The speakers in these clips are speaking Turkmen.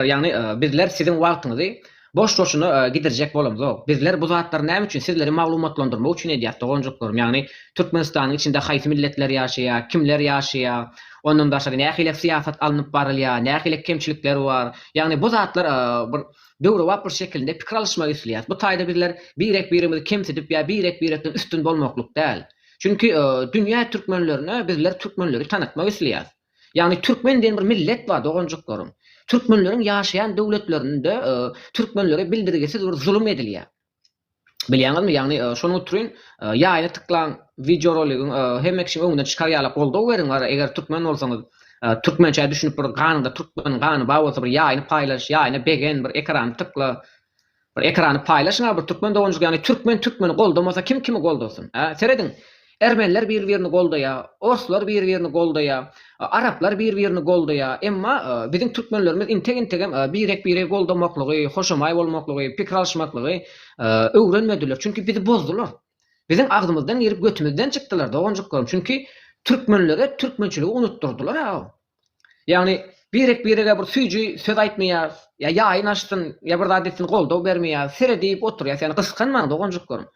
Ýagny, bizler siziň wagtyňyzy boş-boşuna gidirjek bolamzok. Bizler bu zatlary näme üçin, sizleri maglumatlandyrmak üçin edýäs, doganjyklarym. Ýagny, Türkmenistanyň içinde haýsy milletler ýaşaýar, kimler ýaşaýar, ondan başga nähili syýasat alnyp barylýar, nähili kemçilikler bar. Ýagny, bu zatlar bir döwrebap bir şekilinde pikir alyşmak isleýäs. Bu taýda bizler birek-birimizi kemsidip ýa birek-birekden üstün bolmaklyk däl. Çünki, dünýä türkmenlerine bizler türkmenleri tanatmak isleýäs. Ýagny türkmen diýen bir millet bar doganjyklarym. Türkmenleriň ýaşaýan döwletlerinde türkmenlere bildirgisiz bir zulum edilýär. Bilýäňizmi? Ýagny şonuň utrun ýaýny tyklaň, wideoroligiň hemme kişiň öňüne çykar ýaly goldaw beriň wara eger türkmen bolsaňyz. Türkmençä düşünip bir ganyňda türkmeniň gany bar bolsa bir ýaýny paýlaş, ýaýny begen, bir ekrany tykla. Bir ekrany paýlaşyňa bir türkmen doganjyk ýagny türkmen türkmeni goldamasa kim kimi goldasyn a serediň ermenler bir birini goldaýa orslar bir birini goldaýa araplar bir birini goldaýa emma biziň türkmenlerimiz integ integem birek biregi goldamaklygy hoşamaý bolmaklygy pikir alyşmaklygy öwrenmediler çünki bizi bozdular biziň agzymyzdan girip götümizden çykdylar doganjyklarym çünki türkmenlere türkmençiligi unutdyrdylar a Ýagny, birek-birege bir süýji söz aýtmaýas, ýa ýaýyn açsyn, ýa bir zat etsin goldaw bermeýas, seredip oturýas. Ýagny, gysganmaň doganjyklarym.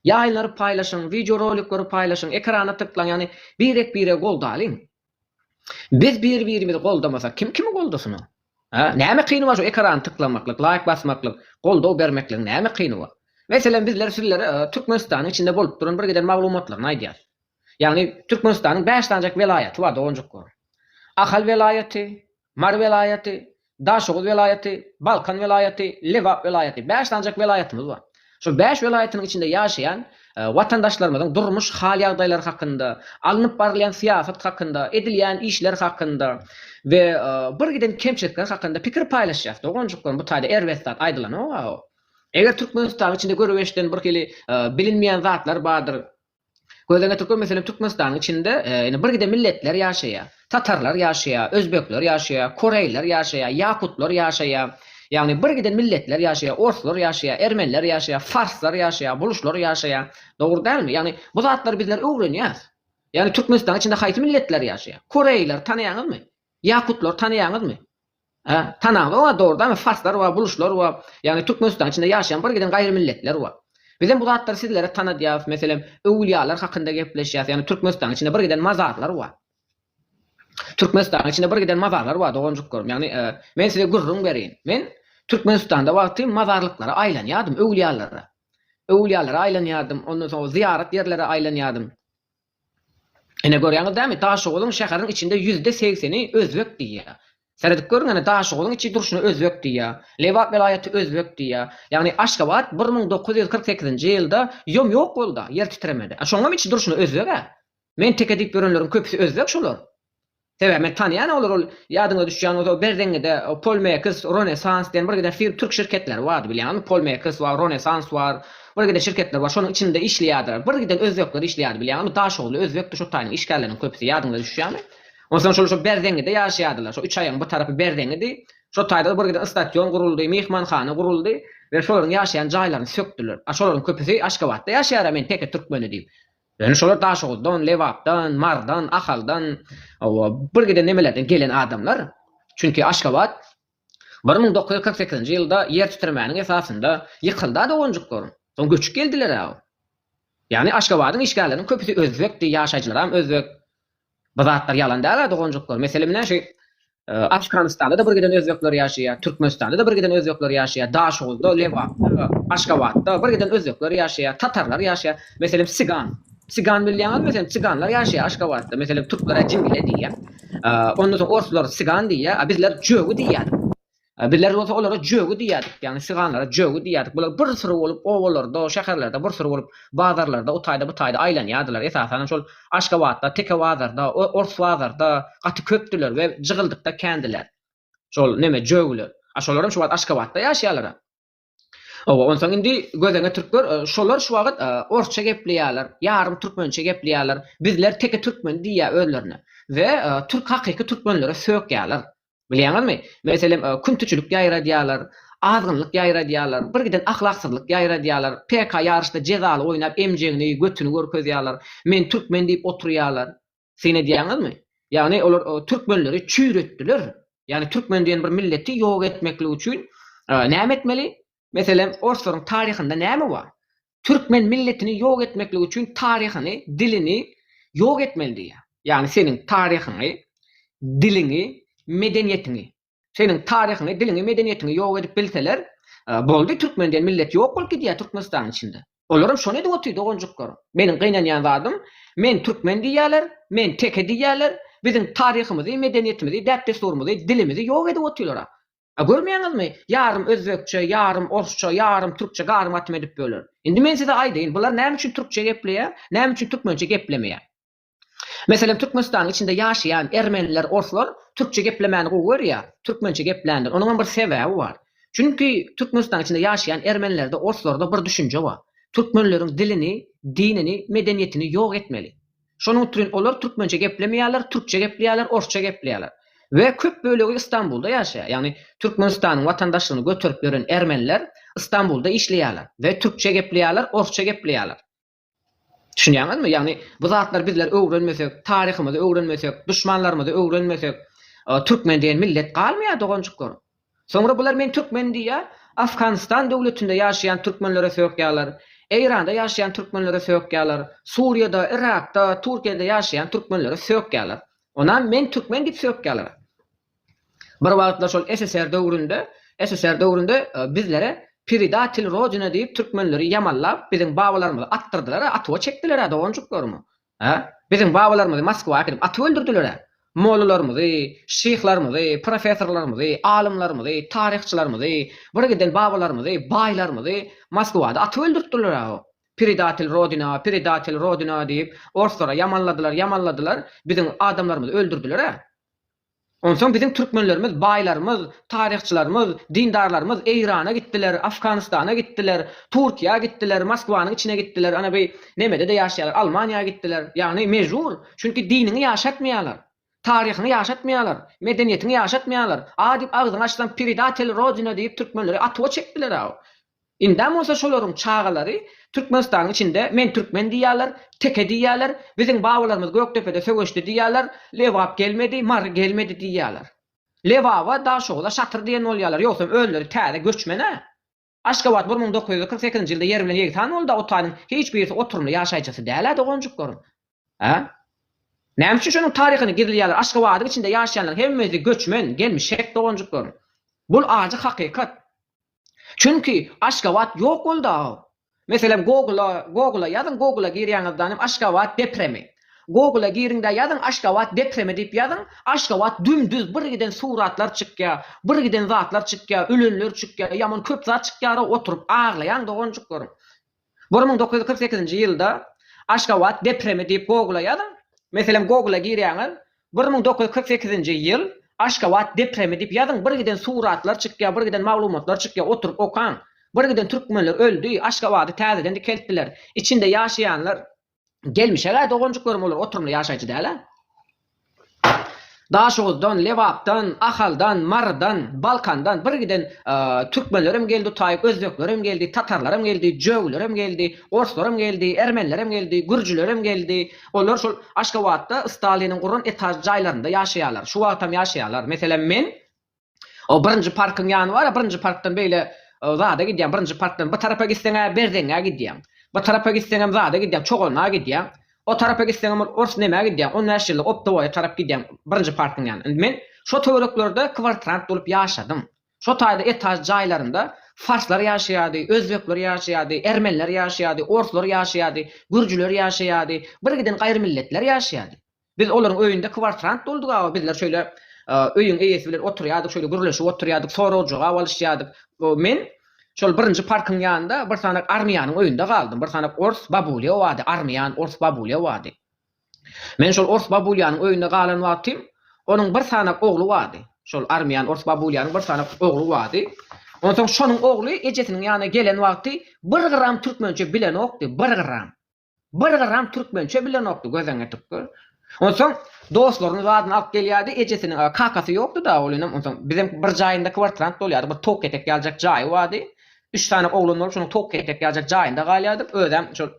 Ýaýynlary paýlaşyň, wideorolikleri paýlaşyň, ekrana tyklaň, ýagny birek-biregi goldalyň. Biz bir-birimizi goldamasak, kim kimi goldasyn o? Hä? Näme kyny bar şu ekrany tyklamaklyk, laýk basmaklyk, goldaw bermekligiň näme kyny bar? Meselem, bizler sizlere Türkmenistanyň içinde bolup duran birgiden maglumatlaryny aýdýas. Ýagny Türkmenistanyň bäş sanjak welaýaty bar doganjyklar. Ahal welaýaty, Mary welaýaty, Daşoguz welaýaty, Balkan welaýaty, Lebap welaýaty. Bäş sanjak welaýatymyz bar. Şol bäş welaýatynyň içinde ýaşaýan watandaşlarymyzyň durmuş hal-ýagdaýlary hakynda, alnyp barylýan syýasat hakynda, edilýän işler hakynda we bir giden kemçilikler hakynda pikir paýlaşýas doganjyklarym. Bu taýda erbet zat aýdylanok-a. Eger Türkmenistanyň içinde görüp-eşiden birhili bilinmeýän zatlar bardyr, Göz öňe türkmen meselem türkmenistanyň içinde ine bir gide milletler ýaşaýa. Tatarlar ýaşaýa, özbekler ýaşaýa, koreýler ýaşaýa, ýakutlar ýaşaýa. Ýagny bir gide milletler ýaşaýa, orslar ýaşaýa, ermenler ýaşaýa, farslar ýaşaýa, buluşlar ýaşaýa. Dogry dälmi? Ýagny bu zatlary bizler öwrenýäs. Ýagny türkmenistanyň içinde haýsy milletler ýaşaýa? Koreýleri tanaýaňyzmy? Ýakutlar tanaýaňyzmy? Hä, tanaňda oňa dogrudanam farslar bar, buluşlar bar, ýagny Türkmenistanyň içinde ýaşaýan bir giden gaýry milletler bar. Bizem bu zatlary sizlere tanadýarys, meselem, öwülýalar hakynda gepleşýäris, ýagny Türkmenistanyň içinde bir giden mazarlar bar. Türkmenistanyň içinde bir giden mazarlar bar, doganjyklarym, ýagny men size gürrüň bereýin. Men Türkmenistanda wagty mazarlyklara aýlanýardym, öwülýalara. Öwülýalara aýlanýardym, ondan soň zyýarat ýerlere aýlanýardym. Ine görýäňiz dämi Daşoguzyň şäheriň içinde ýüzde segseni özbek diýýär. Seredip görüň ene Daşoguzyň içi durşuna özbek diýýär. Lebap welaýaty özbek diýýär. Ýagny Aşgabat bir müň dokuz ýüz kyrk sekizinji ýylda ýom ýok bolda ýer titremede. Şoňam içi durşuna özbeg-ä. Men teke diýip ýörenleriň köpüsi özbek şolar. Sebäbi men tanýan olary ol ýadyňyza düşýän bolsa Berzeňňede Polmekis, Ronesans diýen bir gider fir türk şirketleri bardy bilýäňizmi Polmekis bar, Ronesans bar bir gider şirketler bar şonuň içinde işleýärdiler bir giden özbekler işleýärdi bilýäňizmi Daşoguzly özbekdi şo taýynyň işgärleriniň köpüsi ýadyňyza düşýämi onsoň şolar şo Berzeňňede ýaşaýardylar şo üç aýagyň bir tarapy Berzeňňedi şo taýda bir giden ystasýon guruldy myhmanhana guruldy we şolaryň ýaşaýan jaýlaryny sökdüler a şolaryň köpüsi Aşgabatda ýaşaýar a men teke türkmeni diýip Ýöne şolar Daşoguzdan, Lebapdan, Marydan, Ahaldan, hawa, birgiden nemelerden gelen adamlar. Çünki Aşgabat bir müň dokuz ýüz kyrk sekizinji ýylda ýer titremeginiň esasynda ýykyldy-a doganjyklarym. Soň göçüp geldiler-ä. Ýagny Aşgabadyň işgärleriniň köpüsi özbekdi, ýaşaýjylaram özbek. Bu zatlar ýalan däl-ä doganjyklar. Meselem näşe Afganystanda-da bir giden özbekler ýaşaýar, Türkmenistanda-da bir giden özbekler ýaşaýar, Daşoguzda, Lebapda, Aşgabatda bir giden özbekler ýaşaýar, tatarlar ýaşaýar. Meselem sigan. Sigan bilýäňizmi sen? Siganlar ýaşaýar Aşgabatda. Meselem türkler-ä jingle diýýär. Ondan soň orslar sigan diýýär, a bizler jögi diýýädik. Bizler bolsa olara jögi diýýärdik, ýagny syganlara jögi diýýärdik. Bular bir syry bolup obalarda, şäherlerde bir syry bolup bazarlarda o taýda bu taýda aýlanýardylar. Esasanam şol Aşgabatda, Teke bazarda, Ors bazarda gaty köpdüler we jygyldykda kändiler. Şol neme jögiler. A şolaram şu wagt Aşgabatda ýaşaýarlar-a. Oba, onsoň indi gözeňe türkler, e, şolar şu wagt e, orsça gepleýärler, ýarym türkmençe gepleýärler. Bizler teke türkmen diýýär özlerine we e, türk hakyky türkmenlere sökýärler. Bilýäňizmi? Meselem, e, küntiçilik ýaýradýarlar, azgynlyk ýaýradýarlar, bir giden ahlaksyzlyk ýaýradýarlar. PK ýaryşda jezaly oýnap emjegini, götüni görkezýärler. Men türkmen diýip oturýarlar. Syn edýäňizmi? Ýagny olar türkmenleri çüýretdiler. Ýagny türkmen diýen bir milleti ýok etmeklik üçin näme etmeli? Meselem, orslaryň taryhynda näme bar? Türkmen milletini ýok etmeklik üçin taryhyny, dilini ýok etmeli diýýär. Ýagny seniň taryhyňy, diliňi, medeniýetiňi. Seniň taryhyňy diliňi medeniýetiňi ýok edip bilseler boldy türkmen diýen millet ýok bolup gidýär türkmenistanyň içinde. Olaram şony edip otyr doganjyklar. Meniň gynanýan zadym men türkmen diýýäler men teke diýýäler biziň taryhymyzy medeniýetimizi däp dessurymyzy dilimizi ýok edip otyrlara. A görmeýäňizmi ýarym özbekçe ýarym orsça ýarym türkçe garym gatym edip böler. Indi men size aýdaýyn bular näme üçin türkçe gepleýär näme üçin türkmençe geplemeýär. Meselem, Türkmenistanyň içinde ýaşaýan ermeniler, orslar türkçe geplemäni gowy görýär, türkmençe gepländir. Onuňam bir sebäbi bar. Çünki Türkmenistanyň içinde ýaşaýan ermenilerde, orslarda bir düşünje bar. Türkmenleriň dilini, dinini, medeniýetini ýok etmeli. Şonuň üçin olar türkmençe geplemeýärler, türkçe gepleýärler, orsça gepleýärler. We köp bölegi Istanbulda ýaşaýar. Ýagny Türkmenistanyň watandaşlygyny göterip ýören ermeniler Istanbulda işleýärler we türkçe gepleýärler, orsça gepleýärler. Düşünýäňizmi? Ýagny bu zatlary bizler öwrenmesek, taryhymyzy öwrenmesek, duşmanlarymyzy öwrenmesek, türkmen diýen millet galmaýar doganjyklar. Soňra bular men türkmen diýýär, Afganistan döwletinde ýaşaýan türkmenlere sökýärler, Eýranda ýaşaýan türkmenlere sökýärler, Suriýada, Yrakda, Türkiýede ýaşaýan türkmenlere sökýärler. Onam men türkmen diýip sökýärler. Bir wagtlar şol SSR döwründe, SSR döwründe bizlere Predatel Rodina diýip türkmenleri ýamallap biziň babalarymyzy atdyrdylar-a, atuwa çekdiler-ä doganjyklarymy. Hä? Biziň babalarymyzy Moskwa äkidip atyp öldürdiler-ä. Mollalarymyzy, şyhlarymyzy, professorlarymyzy, alymlarymyzy, taryhçylarymyzy, birgiden babalarymyzy, baýlarymyzy Moskwada atyp öldürtdiler-ä o. Predatel Rodina, Predatel Rodina diýip orslara ýamanladylar, ýamanladylar, biziň adamlarymyzy öldürdiler-ä. Onsoň biziň türkmenlerimiz, baýlarymyz, taryhçylarymyz, dindarlarymyz Eýrana gitdiler, Afganystana gitdiler, Turkiýa gitdiler, Moskwanyň içine gitdiler, ana bi nemede-de ýaşaýarlar, Almaniýa gitdiler. Ýagny mejbur, çünki diniňi ýaşatmaýarlar, taryhyňy ýaşatmaýarlar, medeniýetiňi ýaşatmaýarlar. A diýip agzyňy açsaň, Predatel Rodina diýip türkmenleri atuwa çekdiler-ä. Indem bolsa şolaryň çagalary Türkmenistanyň içinde men türkmen diýýärler, teke diýýärler, biziň babalarymyz Gökdepede söweşdi diýýärler, Lebap gelmedi, Mary gelmedi diýýärler. Lebaba, Daşogza şatyr diýen bolýarlar, ýogsam özleri täze göçmen-ä. Aşgabat bir müň dokuz ýüz kyrk sekizinji ýylda ýer bilen ýegsan boldy-a, o taýynyň hiç birisi oturymly ýaşaýjysy däl-ä doganjyklaryň. Hä? Näme üçin şonuň taryhyny gizleýärler? Aşgabadyň içinde ýaşaýanlaryň hemmesi göçmen, gelmişek doganjyklaryň. Bul ajy hakykat. Çünki Aşgabat ýok boldy-aw. Meselem Google-a, Google-a ýazyň, Google-a girýäňizdan hem Aşgabat depremi. Google-a giriň-de ýazyň Aşgabat depremi diýip ýazyň, Aşgabat dümdüz birgiden suratlar çykýar, birgiden zatlar çykýar, ölenler çykýar, ýaman köp zat çykýar-ow, oturyp aglaýaň doganjyklaryň. Bir müň dokuz ýüz kyrk sekizinji ýylda Aşgabat depremi diýip Google-a ýazyň. Meselem Google-a girýäňiz, bir müň dokuz ýüz kyrk sekizinji ýyl Aşgabat depremi diýip ýazyň, birgiden suratlar çykýar, birgiden maglumatlar çykýar, oturyp okaň. Birgiden türkmenler öldi, Aşgabady täzeden dikeltdiler, içinde ýaşaýanlar Gelmişeg-ä doganjyklarym olar oturymly ýaşaýjy däl-ä. Daşoguzdan, Lebapdan, Ahaldan, Marydan, Balkandan birgiden türkmenlerem geldi taýy, özbeklerem geldi, tatarlarem geldi, jögülerem geldi, orslarem geldi, ermenilerem geldi, gürjülerem geldi. Olar şol Aşgabatda Staliniň guran etažly jaýlarynda ýaşaýarlar. Şu wagtam ýaşaýarlar. Meselem men O birinji parkyň ýany bar-a, birinji parkdan beýle e, zada gidýäň, birinji parkdan bu tarapa gitseň-ä Berzeňňä gidýäň. Bu tarapa gitseňem zada gidýäň, Çogana gidýäň. O tarapa gitseňem ol ors nämä gidýäň, 15 ýyllyk optowoýa tarap gidýäň, birinji parkyň ýany. Indi men şo töwereklerde kwartirant bolup ýaşadym. Şo taýda etaž jaýlarynda farslar ýaşaýardy, özbekler ýaşaýardy, ermeniler ýaşaýardy, orslar ýaşaýardy, gürjüler ýaşaýardy, birgiden gaýrymilletler ýaşaýardy. Biz olaryň öýünde kwartrant bolduk awa, bizler şöyle öýüň eýesi bilen oturýardyk, şöyle gürleşip oturýardyk, sorag-jogap alyşýardyk. Men şol birinji parkyň ýanynda bir sanak armyýanyň öýünde galdym. Bir sanak ors babulýa bardy, armyýan ors babulýa bardy. Men şol ors babulýanyň öýünde galan wagtym, onuň bir sanak ogly bardy. Şol armyýan ors babulýanyň bir sanak ogly bardy. Onsoň şonuň ogly ejesiniň ýanyna gelen wagty bir gram türkmençe bilenokdy, bir gram. Bir gyram türkmençe bilenokdy, gözeňe tükger. Onsoň dostlaryny zadyny alyp gelýärdi, ejesiniň, a, kakasy ýokdy-da, ol inem, onsoň biziň bir jaýynda kwartirant bolýardy, bir towuk etek ýaljak jaýy bardy. Üç sany oglan bolup, şonuň towuk etek ýaljak jaýynda galýardyk, özem şol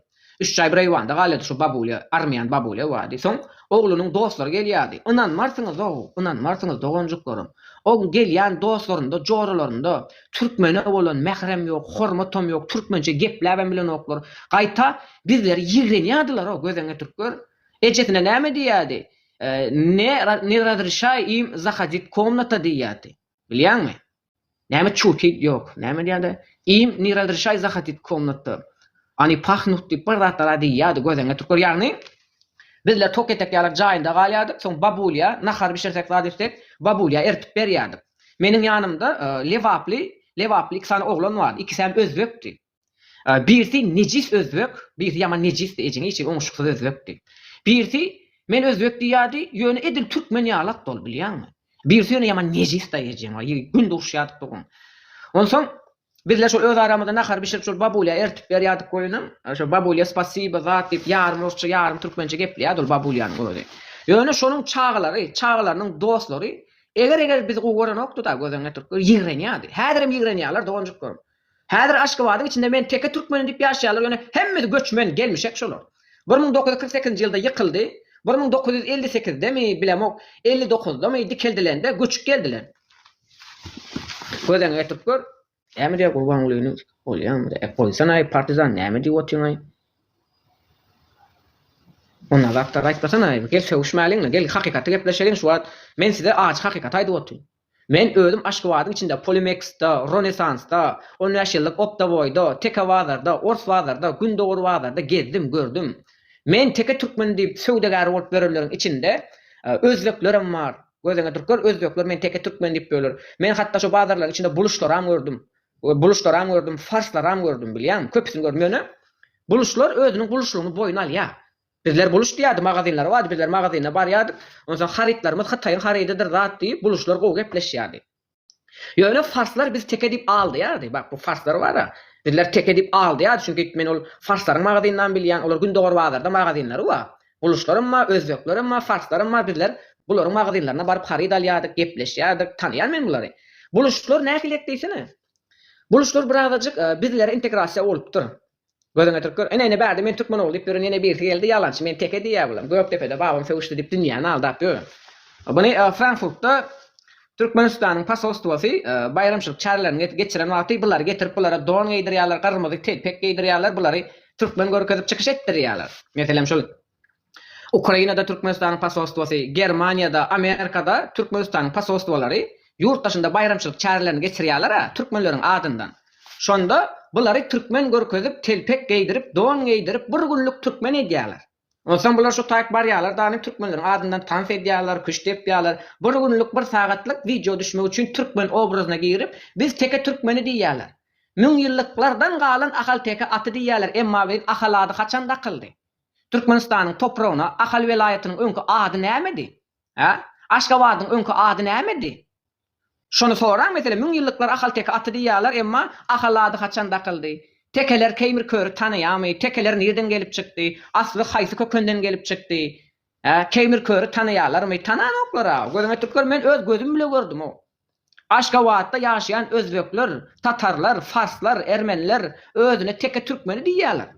üç jaý bir eýwanda galýardy, şu babulýa, armýan babulýa bardy. Soň oglunyň dostlary gelýärdi. Ynanmarsyňyz-ow, ynanmarsyňyz, doganjyklarym, o gelýän dostlarynda, joralarynda Türkmene bolan mährem ýok, hormatam ýok, türkmençe gepläbem bilenoklar. Gaýta bizleri ýigrenýärdiler-ow, gözeň getirip gör. Ejesine näme diýýärdi? Ne, ne razrişaý im zahodit komnata diýýärdi. Bilýäňmi? Näme çuti, ýok, näme diýýärdi? Im ne razrişaý zahodit komnata. Oni pahnuht diýip bir zatlar-a diýýärdi, gözeň getirip gör. Ýagny, bizler tok etek ýalar jaýynda galýardyk, soň babulýa nahar bişirsek, zat etsek, babulýa eritip berýärdik. Meniň ýanymda lebaply, lebaply iki sany oglan bardy. Ikisem özbekdi. Birisi nejis özbek, birisi ýaman nejisdi, ejiň içi oňuşyksyz özbekdi. Birisi men özbek diýýärdi, ýöne edil türkmen ýalakdy ol, bilýäňmi? Birisi ýöne ýaman nejisdi-aý ejeň, aý, gün duşýardyk bir gün. Onsoň Bizler şol öz aramyzda nahar bişirip şol babulýa ertip berýärdik goýunyň. Şo babulýa spasiba zat diýip ýarym rusça ýarym türkmençe gepleýärdi ol babulýanyň özi. Ýöne şonuň çagalary, çagalarynyň dostlary eger eger bizi gowy görenokdyda gözeňňe türkler ýigrenýärdi. Häzirem ýigrenýärler doganjyklarym. Häzir Aşgabadyň içinde men teke türkmenim diýip ýaşaýarlar ýöne hemmesi göçmen, gelmişek şolar. Bir müň dokuz ýüz kyrk sekizinji ýylda ýykyldy. Bir müň dokuz ýüz elli sekizde mi bilemok elli dokuzdamy dikeldilende göçüp geldiler. Gözeňi getirip gör. Näme diýýär Gurbangulynyň bolýamy-da? E, goýsana-aý, partizan, näme diýip otyň-aý? Onda zat zat aýtmasana-aý, gel sögüşmäliň-le, gel hakykaty gepleşeliň şu wagt. Men size ajy hakykaty aýdyp otyryn. Men özüm Aşgabadyň içinde Polimeks-de, Ronesans-da, on bäş ýyllyk Optowoý-da, Teke bazarda, Ors bazarda, Gündogar bazarda gezdim, gördüm. Men teke türkmeni diýip söwdagär bolup ýörenleriň içinde özbeklerem bar. Gözüňe türkler, özbekler meni teke türkmen diýip böler. Men hatda şo bazarlaryň içinde buluşlaram gördüm. Buluşlaram gördüm, farslaram gördüm, bilýäňmi? Köpüsini gördüm. Ýöne buluşlar özüniň buluşlygyny boýun alýar. Bizler buluş diýýärdi, magazinler bardy, bizler magazine barýardyk. Onsoň harytlarymyz Hytaýyň harydydyr zat diýip, buluşlar gowy gepleşýärdi. Ýöne farslar biz teke diýip aldaýardy. Bak, bu farslar bar-a, bizler teke diýip aldaýardy, çünki men ol farslaryň magazynyny bilýän, olar Gündogar bazarda magazynlary bar. Guluşlaram bar, özbeklerem bar, farslaram bar, bizler bularyň magazynlaryna baryp haryt alýardyk, gepleşýärdik, tanýan men bulary. Buluşlar nähiliýek diýsene. Buluşlar birazajyk bizlere integrasiýa bolupdyr. Gözüňe türk gör. Ine ine bärde men türkmen ogly diýip ýören ýene birisi geldi ýalançy men teke diýýä bulam Gökdepede babam sögüşdi diýip dünýäni aldap ýör. Muny Frankfurtda Türkmenistanyň posolstwosy baýramçylyk çärelerini geçiren wagty bulary getirip bulara don geýdirýärler gyrmyzy telpek geýdirýärler bulary türkmen görkezip çykyş etdirýärler. Meselem şul. Ukrainada Türkmenistanyň posolstwosy, Germaniýada, Amerikada Türkmenistanyň posolstwolary ýurt daşynda baýramçylyk çärelerini geçirýärler-ä, türkmenleriň adyndan. Şonda bulary türkmen görkezip, telpek geýdirip, don geýdirip, bir günlük türkmen edýärler. Onsoň bular şu taýyp barýarlar dany, türkmenleriň adyndan tans edýärler, küşt depýärler. Bir günlük, bir sagatlyk wideo düşmek üçin türkmen obrazyna girip, biz teke türkmeni diýýärler. Müňýyllyklardan galan ahalteke aty diýýärler, emma biz ahal ady haçan dakyldy? Türkmenistanyň topragyna Ahal welaýatynyň öňki ady nämedi? Hä? Aşgabadyň öňki ady nämedi? Şony soraň, meselem, müňýyllyklar Ahalteke aty diýýärler, emma Ahal ady haçan dakyldy? Tekeler Keýmir Köri tanaýamy? Tekeler nirden gelip çykdy? Asly haýsy kökenden gelip çykdy? Hä? Keýmir Köri tanaýarlarmy? Tananoklar-a. Gözüňe türker, men öz gözüm bile gördüm-ow. Aşgabatda ýaşaýan özbekler, tatarlar, farslar, ermeniler özüne teke türkmeni diýýärler.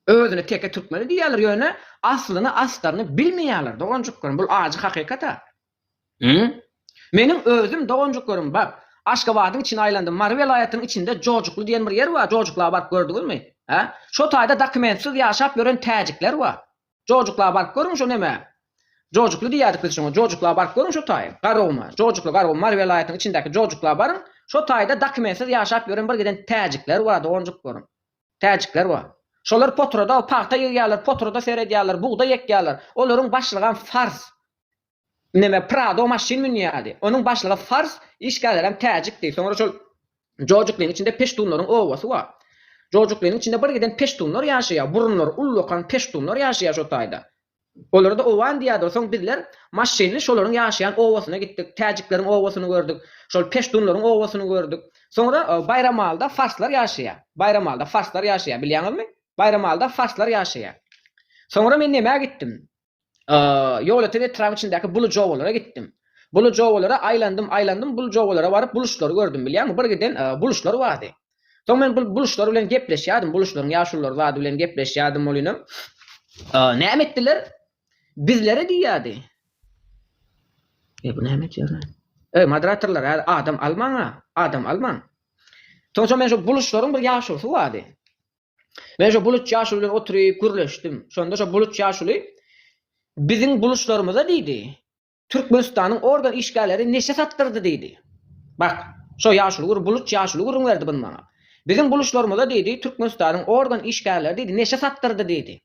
Özüne teke türkmeni diýýärler, ýöne aslyny, astaryny bilmeýärler, doganjyklarym, bul ajy hakykat-a. Hüm. Meniň özüm, doganjyklarym, bak, Aşgabadyň içini aýlandym, Mary welaýatynyň içinde Jojukly diýen bir ýer bar, Jojukla baryp gördüňizmi? Hä? Şo taýda dokumentsiz ýaşap ýören täjikler bar. Jojukla baryp görüň şo neme? Jojukly diýýädik biz şoňa, Jojukla baryp görüň şo taý, Garowma, Jojukly Garow Mary welaýatynyň içindäki Jojukla baryň, şo taýda dokumentsiz ýaşap ýören bir giden täjikler bar doganjyk görüň. Täjikler bar. Şolar potrada pagta ýygýarlar, potrada seredýärler, bugdaý ekýärler. Olaryň başlygam fars. neme Prado maşyn münýärdi. Onuň başlygy fars, işgärlerem täjikdi. Soňra şol jojuklyň içinde peştunlaryň obasy bar. Jojuklynyň içinde bir giden peştunlar ýaşaýar. Burunlary ullakan peştunlar ýaşaýar şo taýda. Olara-da owan diýerdiler. Soň bizler maşynly şolaryň ýaşaýan obasyna gitdik. Täjikleriň obasyny gördük. Şol peştunlaryň obasyny gördük. Soňra Baýramalyda farslar ýaşaýar. Baýramalyda farslar ýaşaýar. Bilýäňizmi? Baýramalyda farslar ýaşaýar. Soňra men nämä gitdim? Ýolöten etrabyň içindäki Buly jowalara gitdim. Buly jowalara aýlandym, aýlandym, Buly jowalara baryp buluşlary gördüm. Bilýäňmi, bir giden buluşlar bardy. Soň men bu buluşlar bilen gepleşýärdim, buluşlaryň ýaşululary zady bilen gepleşýärdim, ol inem, Näme etdiler? Bizlere diýýärdi. E bu näme etýär? Ey moderatorlar, hä adam almaň-a, adam almaň. Soň-soň men şu buluşlaryň bir ýaşulysy bardy. Men şo buluç ýaşuly bilen oturyp gürleşdim. Şonda şo buluç ýaşuly Biziň buluçlarymyza diýdi, Türkmenistanyň organ işgärleri neşe satdyrdy diýdi. Bak, şo ýaşuly gür buluç ýaşuly gürrüň berdi buny maňa. Biziň buluçlarymyza diýdi, Türkmenistanyň organ işgärleri diýdi, neşe satdyrdy diýdi.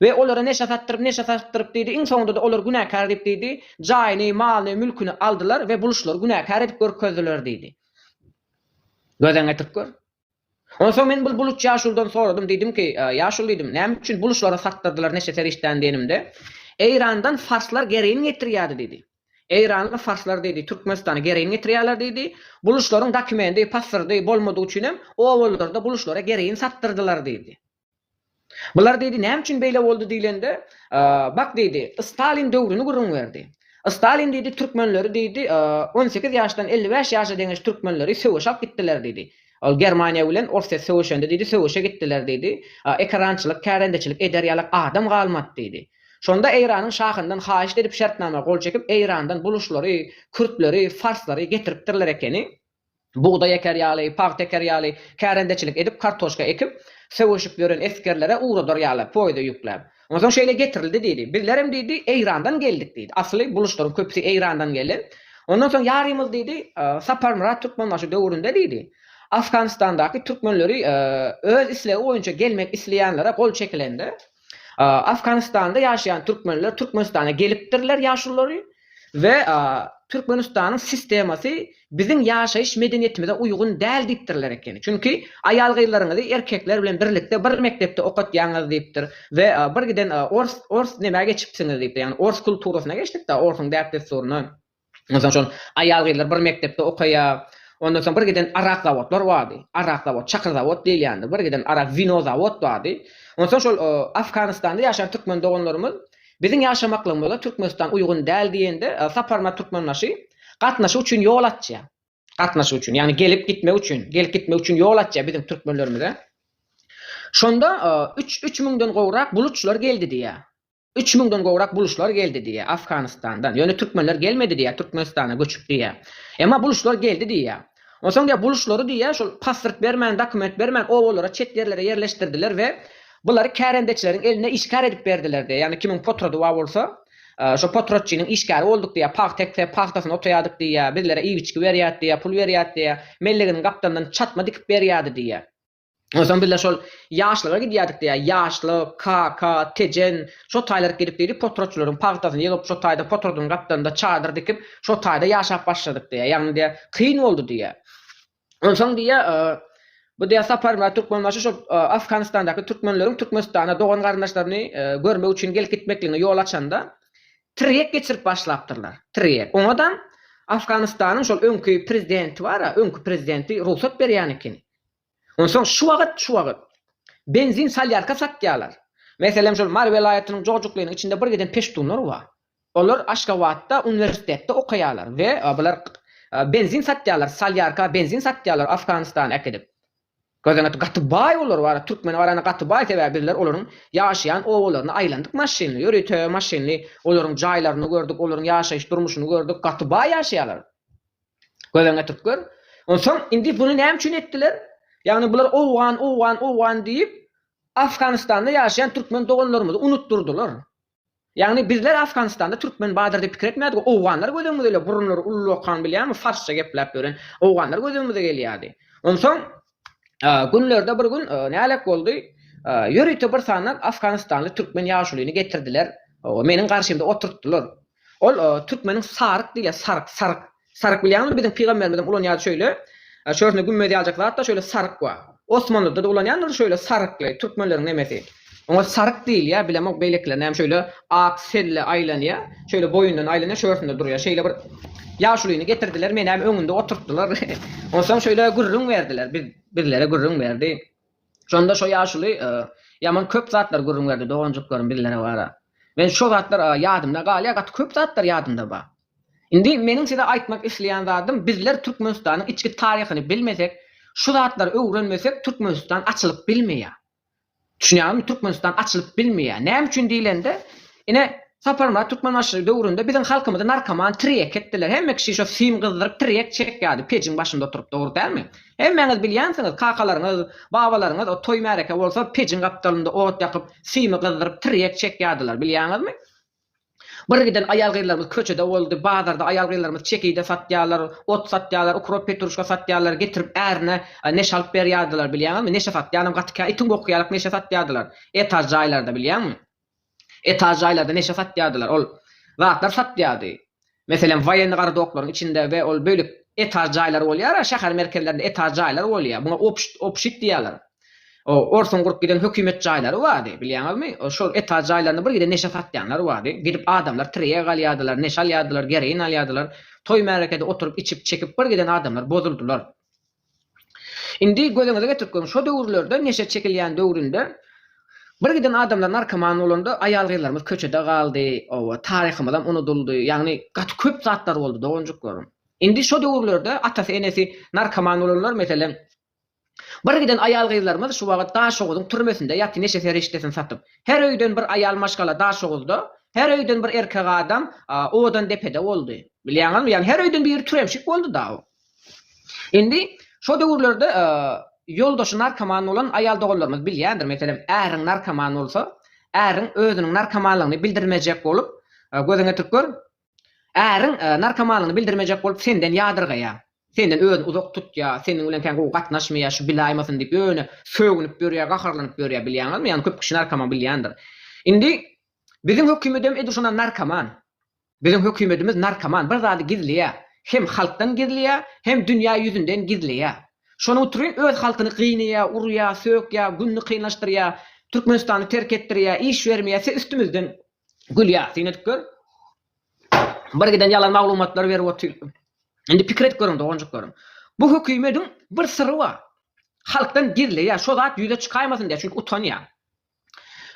We olara neşe satdyryp, neşe satdyryp diýdi, iň soňunda-da olar günäkär diýip diýdi, jaýyny, malyny, mülküni aldylar we buluçlary günäkär edip görkezdiler diýdi. Gözden getirip gör. Onsoň men bul buluç ýaşuludan soradym, diýdim ki, Ýaşuly diýdim, näme üçin buluçlara satdyrdylar neşe serişdäni diýenimde, Eýrandan farslar gerein getirýärdi diýdi. Eýranly farslar diýdi, Türkmenistana gerein getirýärler diýdi. Buluçlaryň dokumendi, pasyrdy bolmadygy üçinem obalylarda buluçlara gerein satdyrdylar diýdi. Bular diýdi, näme üçin beýle boldy diýlende, Bak diýdi, Stalin döwrüni gürrüň berdi. Stalin diýdi, türkmenleri diýdi, on sekiz ýaşdan elli bäş ýaşa deňeş türkmenleri söweşe alyp gitdiler diýdi. Ol Germaniýa bilen Orsýet söweşende diýdi, söweşe gitdiler diýdi. Ekerançylyk, kärendeçilik eder ýalak adam galmady diýdi. Şonda Eýranyň şahyndan haýyşt edip şertnama gol çekip, Eýrandan buluşlary, kürtleri, farslary getiripdirler ekeni. bugdaý eker ýaly, pagta eker ýaly, kärendeçilik edip kartoşka ekip, söweşip ýören esgerlere ugradar ýaly, poýda ýükläp. Onsoň şeýle getirildi diýdi. Bizlerem diýdi, Eýrandan geldik diýdi. Asly bu luşlaryň köpüsi Eýrandan gelen. Ondan soň ýarymyz diýdi, Saparmyrat Türkmenbaşy döwründe diýdi, Afganistandaky türkmenleri öz islegi boýunça gelmek isleýänlere gol çekilende, Afganistanda ýaşaýan türkmenler Türkmenistana gelipdirler ýaşululary we Türkmenistanyň sistemasy biziň ýaşaýyş medeniýetimize uýgun däl diýipdirler ekeni. Çünki aýal-gyzlaryňyzy erkekler bilen birlikde bir mekdepde okatýaňyz diýipdir we bir giden ors ors nämä geçipsiňiz diýipdir. Ýagny ors kulturasyna geçdik-de, orsuň däp-dessuryna. Onsoň şol aýal-gyzlar bir mekdepde okaýar. Ondan soň birgiden arak zawodlar bardy. Arak zawod, çakyr zawod diýilýändi. Birgiden arak, wino zawod bardy. Onsoň şol Afganystanda ýaşaýan türkmen doganlarymyz biziň ýaşamaklygymyza Türkmenistan uýgun däl diýende, Saparmyrat Türkmenbaşy gatnaşyk üçin ýol açýar. Gatnaşyk üçin, ýagny gelip gitmek üçin, gelip gitmek üçin ýol açýar biziň türkmenlerimize. Şonda üç, üç müňden gowrak bulutçylar geldi diýýär. Üç müňden gowrak buluşlar geldi diýýär Afganystandan. Ýöne türkmenler gelmedi diýýär, Türkmenistana göçüp diýýär. Emma buluşlar geldi diýýär. Onsoň diýýär, buluşlary diýýär, şol pasport bermän, dokument bermän obalara, çet ýerlere ýerleşdirdiler we bulary kärendeçileriň eline işgär edip berdiler diýýär. Ýagny kimiň potrody bar bolsa, şo potrodçynyň işgäri bolduk diýýär. Pagta eksek, pagtasyny otaýardyk diýýär. Bizlere iýgiçgi berýärdi diýýär, pul berýärdi diýýär. Melleginiň gapdalyndan çatma dikip berýärdi diýýär. Onsoň bizler şol ýaşlyga gidýärdik diýýär. Ýaşlyk, kaka, Tejen, şo taýlar gidip diýdi, potraçylaryň pagtasyny ýygyp, şo taýda potradyň gapdalynda çadyr dikip, şo taýda ýaşap başladyk diýýär. Ýagny diýýär, kyn boldy diýýär. Onsoň diýýär, bu diýýär Saparmyrat Türkmenbaşy şo Afganistandaky türkmenleriň Türkmenistana dogan-garyndaşlaryny görmek üçin gelip gitmekligine ýol açanda, tirýek geçirip başlapdyrlar. Tirýek. Oňadam Afganistanyň şol öňki prezidenti bar-a, öňki prezidenti rugsat berýän ekeni. Onsoň şu wagt, şu wagt. Benzin salýarka satýarlar. Meselem, şol Mary welaýatynyň Jojuklynyň içinde bir giden peştunlar bar. Olar Aşgabatda uniwersitetde okaýarlar we bular benzin satýarlar, salýarka benzin satýarlar Afganystana äkidip. Gözüňe ýet, gaty baý olar bar, türkmene garanda gaty baý, sebäbi bizler olaryň ýaşaýan obalaryna aýlandyk maşynly, ýörite maşynly olaryň jaýlaryny gördük, olaryň ýaşaýyş durmuşyny gördük, gaty baý ýaşaýarlar. Göz öňüne tutup gör. Onsoň indi buny näme üçin etdiler? Ýagny bular owgan, owgan, owgan diýip, Afganystanda ýaşaýan türkmen doganlarymyzy unutdyrdylar. Ýagny bizler Afganystanda türkmen bardyr diýip pikir etmädik, owganlar göz öňümizde ile burunlary ullakan bilýäňmi, farsça gepläp ýören owganlar göz öňümize gelýärdi. Onsoň Günlerde bir gün nälet boldy, ýörite bir sany afganistanly türkmen ýaşulyny getirdiler, meniň garşymda oturtdylar. Ol türkmeniň saryk diýilýär, saryk, saryk. Saryk bilýäňizmi, biziň pygamberimizem ulanýardy şeýle, şöhürsinde gümmez ýaljak zat-da şeýle saryk bar. Osmanlyda-da ulanýandyr şeýle sarykly, türkmenleriň nemesi. Oňa saryk diýilýär, bilemok beýlekiler näme şöýle ak selle aýlanýar, şöýle boýundan aýlanýar, şu ýörsünde durýar. Şeýle bir ýaşulyny getirdiler, menem öňünde oturtdylar. Onsoň şöýle gürrüň berdiler, biz bizlere gürrüň berdi. Şonda şo ýaşuly ýaman köp zatlar gürrüň berdi doganjyklaryň bizlere bara. Men şo zatlar ýadymda galýar, gaty köp zatlar ýadymda bar. Indi meniň size aýtmak isleýän zadym, bizler Türkmenistanyň içki taryhyny bilmesek, şu zatlary öwrenmesek Türkmenistan açylyp bilmeýär. Düşünýäňizmi, Türkmenistan açylyp bilmeýär. Näme üçin diýlende, ine, Saparmyrat Türkmenbaşy döwründe biziň halkymyzy narkoman, tirýek etdiler. Hemme kişi şo sim gyzdyryp tirýek çekýärdi, pejiň başynda oturyp, dogry dälmi? Hemmäňiz bilýänsiňiz, kakalaryňyz, babalaryňyz o toý-märeke bolsa, pejiň gapdalynda ot ýakyp, simi gyzdyryp, tirýek çekýärdiler, bilýäňizmi? Bir giden aýal-gyzlarymyz köçede boldy. Bazarda aýal-gyzlarymyz çekide satýarlar, ot satýarlar, ukrop, petruşka satýarlar, getirip ärine neşe alyp berýärdiler, bilýäňizmi? Neşe satýanam gaty kä, itiň boky ýalyk neşe satýardylar. Etaž jaýlarda, bilýäňmi? Etaž jaýlarda neşe satýardylar. Ol zatlar satýardy. Meselem, woýenni gardoklaryň içinde we ol bölek etaž jaýlary bolýar-a, şäher merkezlerinde etaž jaýlar bolýar. Muňa obşt, obşit diýýärler. O, orsuň gurup giden hökümet jaýlary bardy, bilýäňizmi? O, şol etaž jaýlarynda bir gide neşe satýanlar bardy. Gidip adamlar tirýek alýardylar, neşe alýardylar, geroin alýardylar. Toý-märekede oturyp içip-çekip bir giden adamlar bozuldylar. Indi gözüňize getirip görüň, şo döwürlerde neşe çekilýän döwründe birgiden adamlar narkoman bolanda aýal-gyzlarymyz köçede galdy, oba, taryhymyzam unudyldy, ýagny gaty köp zatlar boldy doganjyklaryň. Indi şo döwürlerde atasy, enesi narkoman bolanlar meselem birgiden aýal-gyzlarymyz şu wagt Daşoguzyň türmesinde ýaty neşe serişdesini satyp. Her öýden bir aýal maşgala Daşoguzda, her öýden bir erkek adam Owadandepede boldy. Bilýäňizmi? Ýagny her öýden biri türemşik boldy-da. Indi, şo döwürlerde ýoldaşy narkoman bolan aýal doganlarymyz bilýändir, meselem, äriň narkoman bolsa, äriň özüniň narkomanlygyny bildirmejek bolup, gözüňe ýetirip gör, äriň narkomanlygyny bildirmejek bolup senden ýadyrgaýar, senden özüni uzak tutýar, seniň bilen kän gowy gatnaşmaýar, şu bilaýmasyn diýip, ýöne sögünip ýörýär, gaharlanyp ýörýär, bilýäňizmi? Ýagny köp kişi narkoman bilýändir. Indi, biziň hökümedem edil şondan narkoman. Biziň hökümetimiz narkoman bir zady gizleýä, hem halkdan gizleýä, hem dünýä ýüzünden gizleýä. Şonuň utrun öz halkyny gynaýa, urýa, sökýä, günni kynlaşdyrýa, Türkmenistany terk etdirýä, iş bermeýä, se üstümizden gülýä. Syn edip gör. Bir giden ýalan maglumatlary berip otyr. Indi pikir edip görüň doganjyklaram. Bu hökümediň bir syry bar. Halkdan gizleýä, şo zat ýüze çykaýmasyn diýä, çünki utanýa.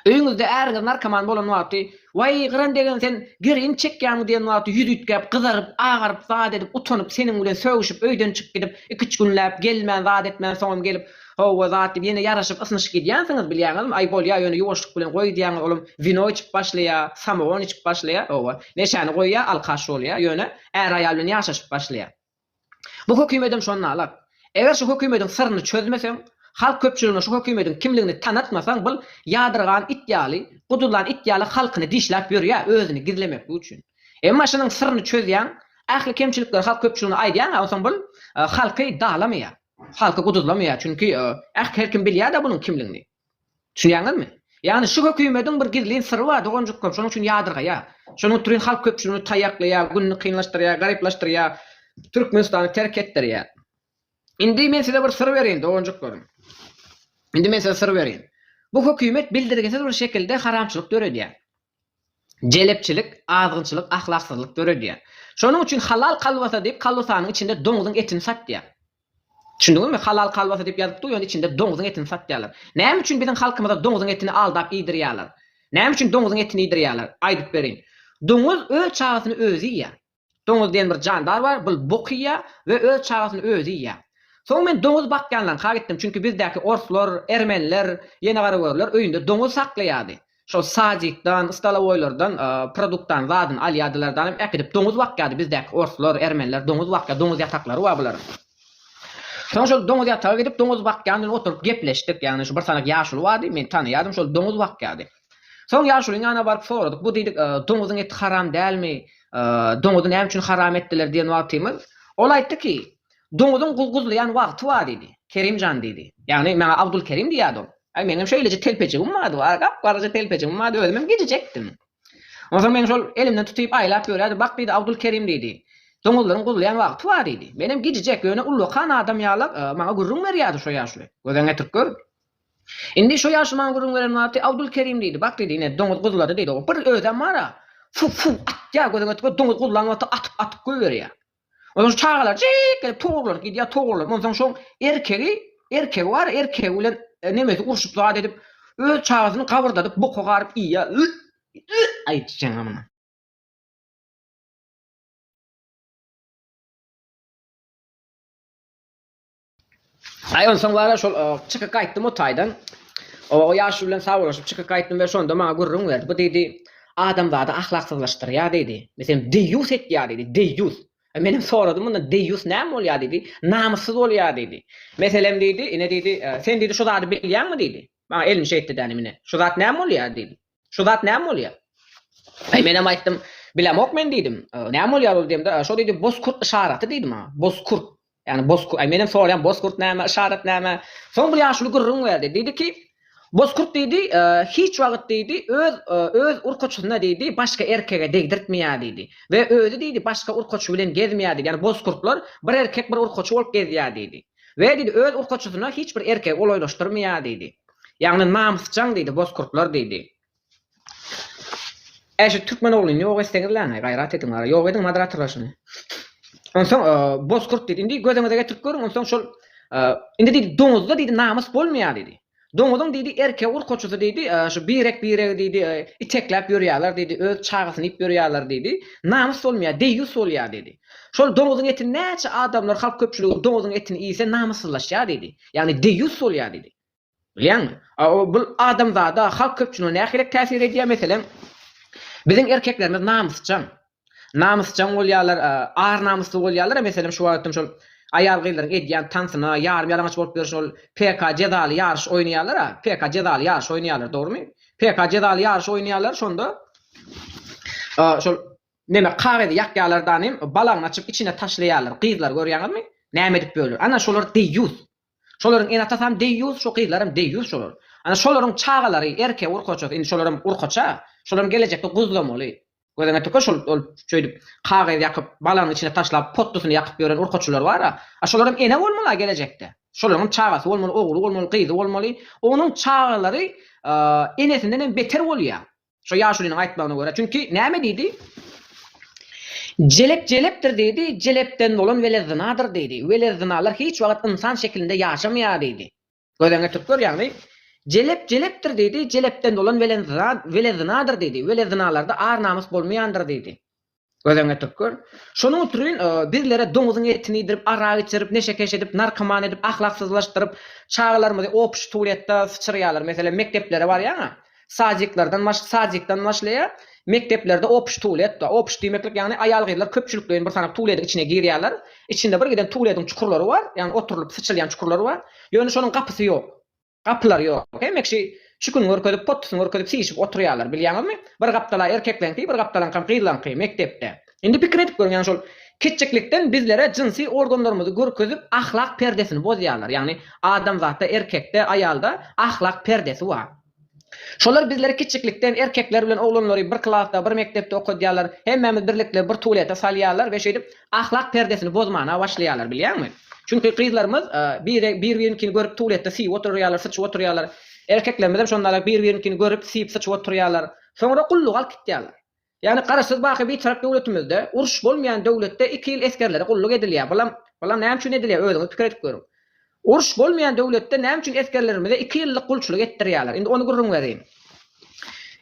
Öýüňizde äriňiz narkoman bolan wagty, Waý, gyran degen sen gerin çekýäňmi diýen wagty ýüzi üýtgäp, gyzaryp, agaryp, zat edip, utanyp, seniň bilen sögüşip, öýden çykyp gidip, iki-üç günläp, gelmän, zat etmän, soňam gelip, Hawa, zat diýip, ýene ýaraşyp, ysnyşyp gidýänsiňiz, bilýäňizmi? Aý, bolýar, ýöne ýuwaşlyk bilen goý diýýäňiz, olam wino içip başlaýar, samogon içip başlaýar, hawa, neşäni goýýar, alkaş bolýar, ýöne äri-aýal bilen ýaşaşyp başlaýar. Bu hökümedem şonda alar. Eger şu hökümediň syryny çözmeseň, halk köpçüligine şu hökümediň kimligini tanatmasaň bul ýadyrgan it ýaly, gudulan it ýaly halkyny dişläp ýörýä özüni gizlemeklik üçin. Emma şunuň syryny çözýäň, ähli kemçilikleri halk köpçüligine aýdýaňa onsoň bul halky dalamaýar, halky guduzlamaýar çünki äh her kim bilýäda bunuň kimligini. Düşünýäňizmi? Ýagny şu hökümediň bir gizlin syry bar doganjyklarym şonuň üçin ýadyrgaýar. Şonuň utrin halk köpçüligini taýaklaýar, gününi kynlaşdyrýar, garyplaşdyrýar, Türkmenistany terk etdirýär. Indi men size bir syr bereýin doganjyklarym. Indi men size syr bereýin. Bu hökümet bildirgisiz bir şekilde haramçylyk döredýär. Jelepçilik, azgynçylyk, ahlaksyzlyk döredýär. Şonuň üçin halal kalbasa diýip kalbasanyň içinde doňzuň etini satýar. Düşündiňizmi? Halal kalbasa diýip ýazyp dur, ýöne içinde doňzuň etini satýarlar. Näme üçin biziň halkymyza doňzuň etini aldap iýdirýärler? Näme üçin doňzuň etini iýdirýärler? Aýdyp berin. Doňuz öz çagasyny özi iýýär. Doňuz diýen bir jandar bar, bul bok iýýär we öz çagasyny özi iýýär. Soň men doňuz bakýanlaryňka gitdim, çünki bizdäki orslar, ermeniler, ýenegaraögürler öýünde doňuz saklaýardy. Şol sadikdan, stolowoýlardan produktany, zadyny alýardylar da alam äkidip doňuz bakýardy, bizdäki orslar, ermeniler doňuz bakýar, doňuz ýataklary bar bularyň. Soň şol doňuz ýataga gidip doňuz bakýan bilen oturyp gepleşdik, ýagny şu bir sanak ýaşuly bardy, meni tanaýardy, şol doňuz bakýardy. Soň ýaşulyň ýanyna baryp soradyk, bu diýdik, doňuzyň eti haram dälmi, doňuzy näme üçin haram etdiler diýen wagtymyz, ol aýtdyki, doňuzyň guzguzlaýan wagty bar diýdi. Kerim jan diýdi. Ýagny maňa Abdulkerim diýýärdi ol. Aý meňem şeýleje telpejigim bardy, gap-garaja telpejigim bardy, özümem gijijekdim. Onsoň meni şol elimden tutyp aýlap ýörýärdi, bak diýdi, Abdulkerim diýdi, doňuzlaryň guzlaýan wagty bar diýdi. Menem gijijek, ýöne ullakan adam ýalak maňa gürrüň berýärdi şo ýaşuly. Göz-ä getirip gör. Indi şo ýaşumaň gürrüň beren wagty Abdulkerim diýdi, Bak diýdi, ine, doňuz guzlady diýdi, o bir özem bar-a, fuw-fuw atýar, gözüňe tüpe, doňuz guzlan wagty atyp-atyp goýberýär. Onsoň şu çagalar jyýk gelip togurlanyp gidýär, togurlanyp, onsoň şoň erkegi, erkegi bar, erkegi bilen nemesi urşup zat edip, öz çagasyny gabyrdadyp, boka garyp iýýär, ýy-ýy aýt sen-a muny. Aý onsoň wala şol çykyp gaýtdym o taýdan. O ýaşuly bilen sabalaşyp çykyp gaýtdym we şonda maňa gürrüň berdi. Bu diýdi, adamzady ahlaksyzlaşdyrýar diýdi. Meselem, deýýus etýär diýdi, deýýus. E, men hem soradym mundan deýýus näme bolýar diýdi. Namyssyz bolýar diýdi. Meselem diýdi, ine diýdi, e, sen diýdi şu zady bilýäňmi diýdi. Maňa elini şeýtdi dänim ine. Şu zat näme bolýar diýdi. Şu zat näme bolýar? Aý menem aýtdym, bilemok men diýdim. Näme bolýar ol diýemde, şo diýdi, bozkurt yşaraty diýdi maňa. Bozkurt. Ýagny bozkurt. Aý menem soraýan, bozkurt näme, yşarat näme? Soň bir ýaşuly gürrüň berdi. Diýdi ki, bozkurt diýdi, hiç wagt diýdi, öz öz urkaçysyna diýdi, başga erkege degdirtmeýär diýdi. We özi diýdi, başga urkaçy bilen gezmeýär diýdi. Ýagny bozkurtlar bir erkek, bir urkaçy bolup gezýär diýdi. We diýdi, öz urkaçysyna hiç bir erkegi golaýlaşdyrmaýar diýdi. Ýagny namysjaň diýdi, bozkurtlar diýdi. Äý şu türkmen oglyny ýok etseňizläňaý, gaýrat ediň wara, ýok ediň moderatorlar şuny. Onsoň bozkurt diýdi, indi gözüňize getirip görüň, onsoň şol indi diýdi, doňuzda diýdi namys bolmaýar diýdi. Doňuzyň diýdi, erkek urkaçysy diýdi, şu birek-biregi diýdi, itekläp ýörýärler diýdi, öz çagasyny iýip ýörýärler diýdi. Namys bolmaýar, deýýus bolýar diýdi. Şol doňuzyň etini näçe adamlar, halk köpçüligi doňuzyň etini iýse, namyssyzlaşýar diýdi. Ýagny deýýus bolýar diýdi. Bilýäňmi? Bul adamzada, halk köpçüligine nähili täsir edýär? Meselem, biziň erkeklerimiz namysjaň. namysjaň bolýarlar, ar namysly bolýarlar, meselem şu wagtam şol aýal-gyzlaryň edýän tansyna, ýarym ýalaňaç bolup ýörşi ol PK jezaly ýaryş oýnaýarlar a, PK jezaly ýaryş oýnaýarlar dogrymy? PK jezaly ýaryş oýnaýarlar şonda şol neme kagyzy ýakýarlar danym balagyny açyp içine taşlaýarlar gyzlar görýäňizmi näme edip ýörler ana şolar deýýus Şolaryň enatasam deýýus şo gyzlaram deýýus şolar. Ana şolaryň çagalary erke urkaçasy indi şolaram urkaça şolaram gelejekde guzlamaly. Gözüňe tüke şol ol şeýdip kagyz ýakyp balanyň içine taşlap potlusyny ýakyp ýören urkaçylar bara a şolaram ene bolmala gelejekde. Şolaryňam çagasy bolmaly ogly bolmaly gyzy bolmaly onuň çagalary enesinde nem beter bolýa. Şo ýaşulynyň aýtmagyna görä, çünki näme diýdi? Jelep jelepdir diýdi, jelepden bolan wele zynadyr diýdi. Wele zynalar hiç wagt ynsan şekilinde ýaşamaýar diýdi. Gözüň getirip gör, ýagny, Jelep jelepdir diýdi, jelepden bolan wele zynadyr diýdi. Wele zynalarda ar-namys bolmaýandyr diýdi. Göz öňüne getirip gör. Şonuň üçin bizlere doňuzyň etini iýdirip, arak içirip, neşekeş edip, narkoman edip, ahlaksyzlaşdyryp, çagalarymyzy obşi tualetda syçyrýarlar. Meselem, mekdeplere barýaň-a, sadiklerden baş, sadikden başlaýar, mekdeplerde obşi tualet bar. Obşi diýmeklik, ýagny aýal-gyzlar köpçülikleýin bir sanak tualetiň içine girýärler. Içinde birgiden tualetiň çukurlary bar, ýagny oturylyp syçylýan çukurlary bar. Ýöne şonuň gapysy ýok. Gapylar ýok. Hemme kişi çükün görkezip, pottusyn görkezip siýşip oturýarlar. Bilýäňizmi? Bir gapdala erkekleňki, bir gapdalaňkam gyzlaňky, mekdepde. Indi pikir edip görüň, ýagny şol kiçjiklikden bizlere jynsy organlarymyzy görkezip, ahlak perdesini bozýarlar. Ýagny adamzatda, erkekde, aýalda ahlak perdesi bar. Şolar bizleri kiçjiklikden erkekler bilen oglanlary bir klasda, bir mekdepde okadýarlar. Hemmämiz birlikde bir tualete salýarlar we şeýdip Ahlak perdesini bozmana başlaýarlar bilýäňmi? Çünki gyzlarymyz biri bir-biriňkini görüp tualetde siýip oturýarlar, syçyp oturýarlar. Erkeklerimizem şondalag bir-biriňkini görüp siýip syçyp oturýarlar. Soňra gullugy alyp gitýärler. Ýagny garaşsyz baky Bitarap döwletimizde uruş bolmaýan döwletde iki ýyl esgerlere gulluk edilýär. Bulam bulam näme üçin edilýär özüňiz pikir edip görüň. Uruş bolmaýan döwletde näme üçin esgerlerimize iki ýyllyk gulçulyk etdirýärler. Indi ony gürrüň berýin.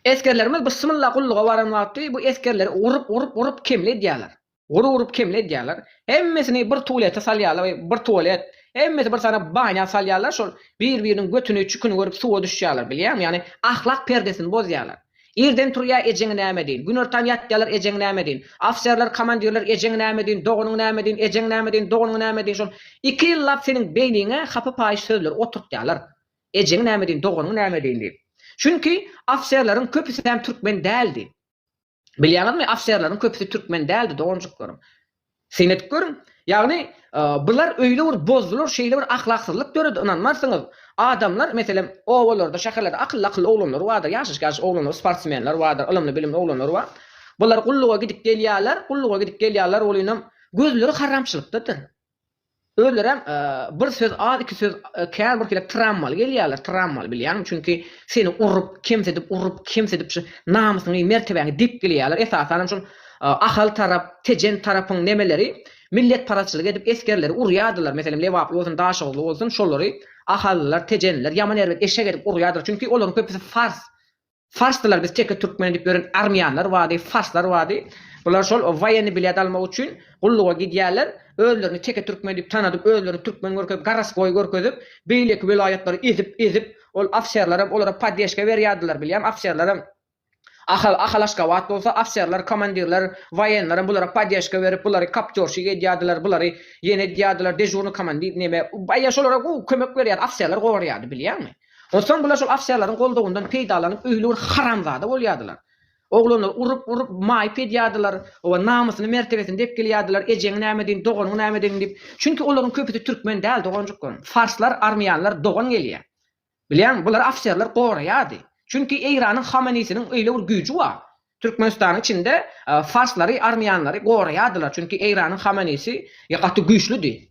Esgerlerimiz bysmylla gulluga baran wagty bu esgerleri urup urup urup kemli edýärler. Urup-urup kemli edýärler. Hemmesini bir tualete salýarlar we bir tualet, hemmesi bir sany banýa salýarlar, şol bir-biriniň götüni, çüküni görüp suwa düşýärler, bilýäňmi? Ýagny ahlak perdesini bozýarlar. Irden turýar, ejeňi näme diýin? Günortan ýatýarlar, ejeňi näme diýin? Ofiserler, komandirler, ejeňi näme diýin, doganyňy näme diýin, ejeňi näme diýin, doganyňy näme diýin, şol iki ýyllap seniň beýniňe hapa-paýyş sözleri oturtýarlar. Ejeňi näme diýin, doganyňy näme diýin diýip. Çünki ofiserleriň köpüsi hem türkmen däldi. Bilýäňizmi, ofserleriň köpüsi türkmen däldi, doganjyklarym. Syn edip görüň. Ýagny, bular öýle bir bozdular, şeýle bir ahlaksyzlyk döredi, ynanmarsyňyz. Adamlar, meselem, obalarda, şäherlerde akylly-akylly oglanlar bardyr, ýaşyş-ýaşyş oglanlar, sportsmenler bardyr, ylymly-bilimli oglanlar bar. Bular gulluga gidip gelýärler, gulluga gidip gelýärler, welinem gözleri haramçylykdadyr. Özlerem bir söz az iki söz kän bir kile trammaly gelýärler trammaly bilýäňmi çünki seni urup kemsidip urup kemsidip şu namysyňy mertebäňi depgilýärler esasanam şol Ahal tarap Tejen tarapyň nemeleri milletparazçylyk edip esgerleri urýardylar meselem Lebaply bolsun Daşoguzly bolsun şolary Ahallylar Tejenliler ýaman erbet eşek edip urýardylar çünki olaryň köpüsi fars Farsdylar biz teke türkmen edip ýören armýanlar bardy farslar bardy bular şol waýenny bilet almak üçin gulluga gidýärler özlerini teke türkmen edip tanadyp özlerini türkmen görkezip garasgoý görkezip beýleki welaýatlary ezip ezip ol ofserlerem olara poddeşka berýärdiler bilýämi ofserlerem Ahal Ahal Aşgabat bolsa ofserler komandirler waýenlerem bulara poddeşka berip bulary kaptýorşik edýärdiler bulary ýene edýärdiler dežurnyý komandir neme baýa şolara gowy kömek berýärdi ofserler gorýärdi bilýäňmi. Soň bular şol ofserleriň goldawyndan peýdalanyp öýli bir haramzada bolýardylar. Oglanlary urup urup maýyp edýärdiler. Oba namysyny mertebesini depgilýärdiler, ejeňi näme deýin, doganyňy näme deýin diýip. Çünki olaryň köpüsi türkmen däl doganjyklarym. Farslar, armýanlar dogan gelýär. Bilýäňmi, bulary ofserler goraýardy. Çünki Eýranyň Hamenisiniň öýle bir güýji bar. Türkmenistanyň içinde farslary, armýanlary goraýardylar, çünki Eýranyň Hameneýsi gaty güýçlüdi.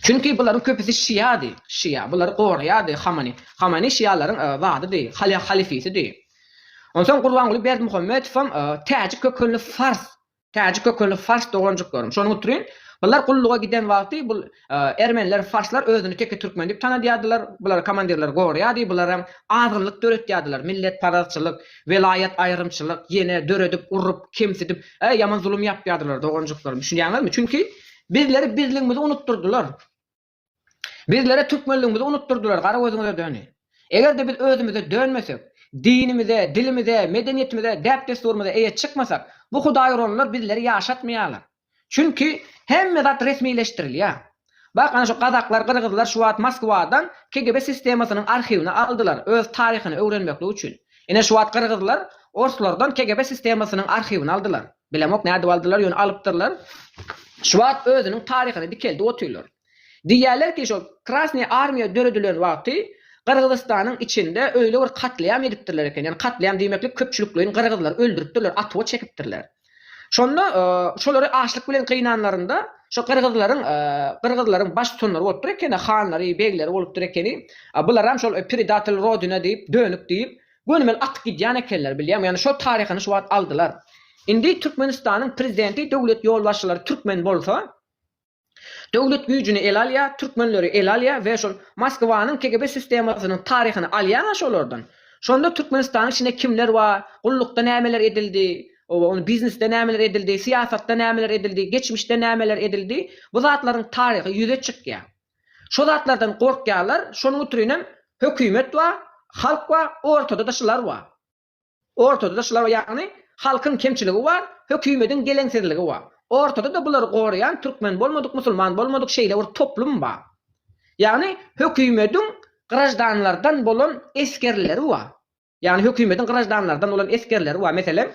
Çünki bularyň köpüsi şiýady, şiýa, bulary goraýardy Hamani. Hamani şiýalaryň zadydy, halyfisidi. Onsoň Gurbanguly Berdimuhamedow hem täjik kökenli fars Täjik kökenli fars doganjyklarym. Şony unutryn. Bular gulluga giden wagty bul ermeniler, farslar özüni teke türkmen diýip tanadýardylar. Bulary komandirler goraýardy. Bular hem azgynlyk döretýärdiler. Milletparazçylyk, welaýat aýrymçylyk, ýene döredip, urup, kemsidip, e, ýaman zulum ýapýardylar doganjyklarym. Düşünýäňizmi? Çünki bizleri bizligimizi unutdyrdylar. Bizlere türkmenligimizi unutdyrdylar, gara gözüňize döni. Eger-de biz özümize dönmesek, dinimize, dilimize, medeniýetimize, däp-dessurymyza eýe çykmasak, bu hudaýuranlar bizleri ýaşatmaýarlar. Çünki hemme zat resmileşdirilýär. Bak, ana şu gazaklar, gyrgyzlar şu wagt Moskwadan KGB sistemasynyň arhiwini aldylar, öz taryhyny öwrenmeklik üçin. Ine şu wagt gyrgyzlar orslardan KGB sistemasynyň arhiwini aldylar. Bilemok nädip aldylar, ýöne alypdyrlar. Şu wagt özüniň taryhyny dikeldip otyrlar. Diýýärler ki, şol Krasnyý Armiýa döredilen wagty Gyrgyzystanyň içinde öýle bir katliam edipdirler eken. Ýani katliam diýmeklik köpçülikleýin gyrgyzlary öldüripdirler, atuwa çekipdirler. Şonda şolary açlyk bilen gynanlarynda şo gyrgyzlaryň gyrgyzlaryň baş tutanlary bolupdyr ekeni, hanlary, begleri bolupdyr ekeni. Bularam şol predatel rodina diýip, dönük diýip, Gönümel atyp gidýän ekenler bilýäňmi ýagny şol taryhyny şu wagt aldylar. Indi Türkmenistanyň prezidenti döwlet ýolbaşçylary türkmen bolsa döwlet güýjüni ele alýa, türkmenleri ele alýa we şol Moskwanyň KGB sistemasynyň taryhyny alýaňa şolardan. Şonda Türkmenistanyň içinde kimler bar, gullukda nämeler edildi, oba ony biznesde nämeler edildi, syýasatda nämeler edildi, geçmişde nämeler edildi bu zatlaryň taryhy ýüze çykýa. Şo zatlardan gorkýarlar, şonuň ütrinem hökümet bar, halk bar, ortada-da şular bar. Ortada-da şular bar, ýagny halkyň kemçiligi bar, hökümediň geleňsizligi bar. Ortada-da bulary goraýan türkmen bolmadyk, musulman bolmadyk şeýle bir toplum bar. Ýagny hökümediň graždanlardan bolan esgerleri bar. Ýagny hökümediň graždanlardan bolan esgerleri bar. Meselem,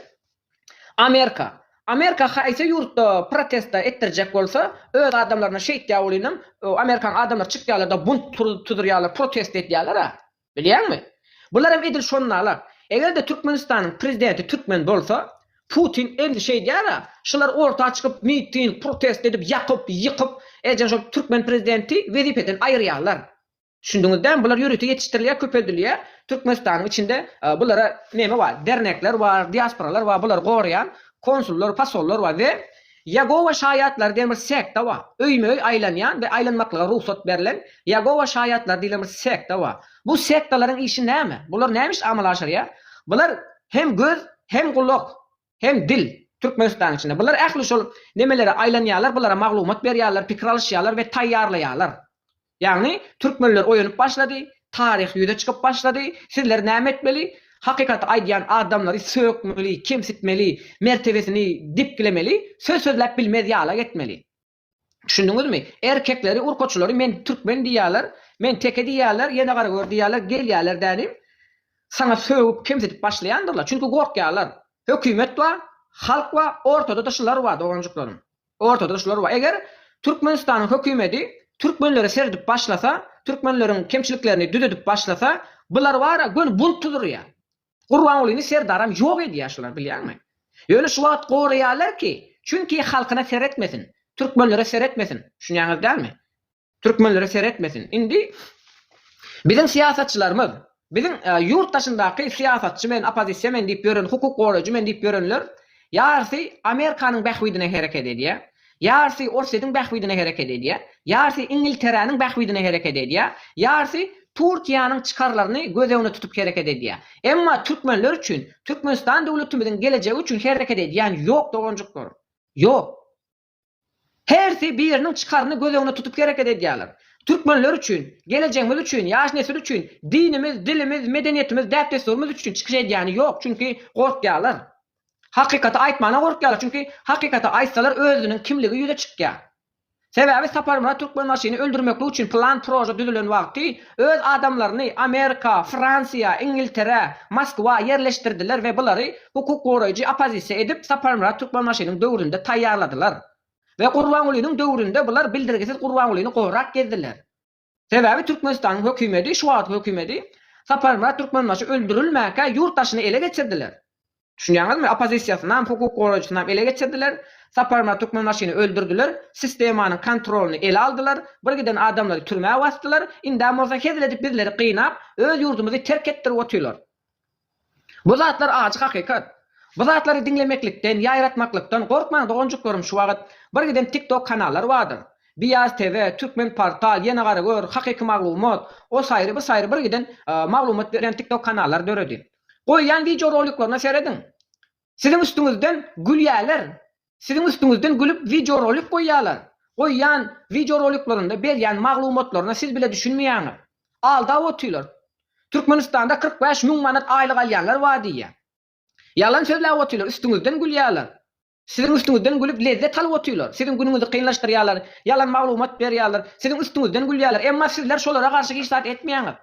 Amerika. Amerika haýsy ýurtda protesta etdirjek bolsa, öz adamlaryna şeýtýär welinem, Amerikanyň adamlary çykýarlar-da bunt tuzurýarlar, protesta edýärler-ä. Bilýäňmi? Bularam edil şonda-la. Eger-de Türkmenistanyň prezidenti türkmen bolsa, Putin edil şeýdýär-ä. Şular orta çykyp, miting, protesta edip, ýakyp, ýykyp, eýjäm şol türkmen prezidenti wezipeden aýyrýarlar. Düşündiňiz dämi bular ýörite ýetişdirilýär köpeldilýär Türkmenistanyň içinde bulara neme bar dernekler bar diasporalar bar bulary goraýan konsullar pasollar bar we Ýegowa şaýatlary diýen bir sekta bar öýme öý aýlanýan we aýlanmaklyga rugsat berlen Ýegowa şaýatlary diýlen bir sekta bar bu sektalaryň işi näme bular näme iş amala aşyrýar bular hem göz hem gulak hem dil, Türkmenistanyň içinde. Bular ähli şol nemelere aýlanýarlar, bulara maglumat berýärler, pikir alyşýarlar we taýýarlaýarlar. Ýagny, türkmenler oýanyp başlady, taryh ýüze çykyp başlady, sizler näme etmeli? Hakykaty aýdýan adamlary sökmeli, kemsitmeli, mertebesini depgilemeli, söz sözläp bilmez ýala etmeli. Düşündiňizmi? Erkekleri, urkaçylary men türkmen diýýärler, men teke diýýärler, ýene gara gör diýýärler, gelýärler dänim, saňa sögüp, kemsidip başlaýandyrlar. Çünki gorkýarlar. Hökümet bar, halk bar, ortada-da şular bar, doganjyklarym. Ortada-da şular bar. Eger Türkmenistanyň hökümeti türkmenlere seredip başlasa, türkmenleriň kemçiliklerini düzedip başlasa, bular bar-a, göni bunt tuzurýar. Gurbangulyny Serdaram ýok edýär şular bilýäňmi? Ýöne şu wagt goraýarlar ki çünki halkyna seretmesin, türkmenlere seretmesin düşünýäňiz dälmi? Türkmenlere seretmesin indi biziň syýasatçylarymyz biziň ýurt daşyndaky syýasatçy men opozisiýa men diýip ýören hukuk goraýjy men diýip ýörenler ýarysy Amerikanyň bähbidine hereket edýär Ýarysy Orsýetiň bähbidine hereket edýär, ýarysy Iňilteräniň bähbidine hereket edýär, ýarysy Turkiýanyň çykarlaryny göz öňüne tutup hereket edýär. Emma türkmenler üçin, Türkmenistan döwletimiziň gelejegi üçin hereket edýän ýok doganjyklarym. Ýok. Hersi biriniň çykaryny göz öňüne tutup hereket edýärler. Türkmenler üçin, gelejegimiz üçin, ýaş nesil üçin, dinimiz, dilimiz, medeniýetimiz, däp-dessurymyz üçin çykyş edýäni ýok, çünki gorkýarlar. Hakykaty aýtmana gorkýarlar, çünki hakykaty aýtsalar özüniň kimligi ýüze çykýar. Sebäbi Saparmyrat Türkmenbaşyny öldürmeklik üçin plan proja düzülen wagty öz adamlaryny Amerika, Fransiýa, Ingiltere, Moskwa ýerleşdirdiler we bulary hukuk goraýjy oppozisiýa edip Saparmyrat Türkmenbaşynyň döwründe taýýarladylar. We Gurbangulynyň döwründe bular bildirgisiz Gurbangulyny gorap gezdiler. Sebäbi Türkmenistanyň hökümeti, şu wagtky hökümeti, Saparmyrat Türkmenbaşy öldürilmäkä ýurt daşyny ele geçirdiler. Düşünýäňizmi? Oppozisiýasynam, hukuk goraýjysynam ele geçirdiler. Saparmyrat Türkmenbaşyny öldürdiler. Sistemanyň kontrolyny ele aldylar. Bir giden adamlary türmä basdylar. Indem bolsa hezil edip bizleri gynap, öz ýurdumyzy terk etdirip otyrlar. Bu zatlar ajy hakykat. Bu zatlary diňlemeklikden, ýaýratmaklykdan gorkmaň doganjyklarym şu wagyt bir giden tik tok kanallar bardyr. Biaz TV, Türkmen portal, Ýene gara gör, Hakyky maglumat, o saýry bu saýry bir giden maglumat berýän tik tok kanallar döredi. Goýýan wideo roliklaryna serediň. Siziň üstüňizden gülýäler. Siziň üstüňizden gülüp wideorolik goýýalar. Goýýan wideoroliklerinde berýän maglumatlaryna siz bile düşünmeýäňiz. Aldap otyrlar. Türkmenistanda kyrk bäş müň manat aýlyk alýanlar bar diýýär. Ýalan sözläp otyrlar, üstüňizden gülýäler. Siziň üstüňizden gülüp lezzet alyp otyrlar. Siziň günüňizi kynlaşdyrýalar, ýalan maglumat berýäler, siziň üstüňizden gülýäler. Emma sizler şolara garşy hiç zat etmeýäňiz.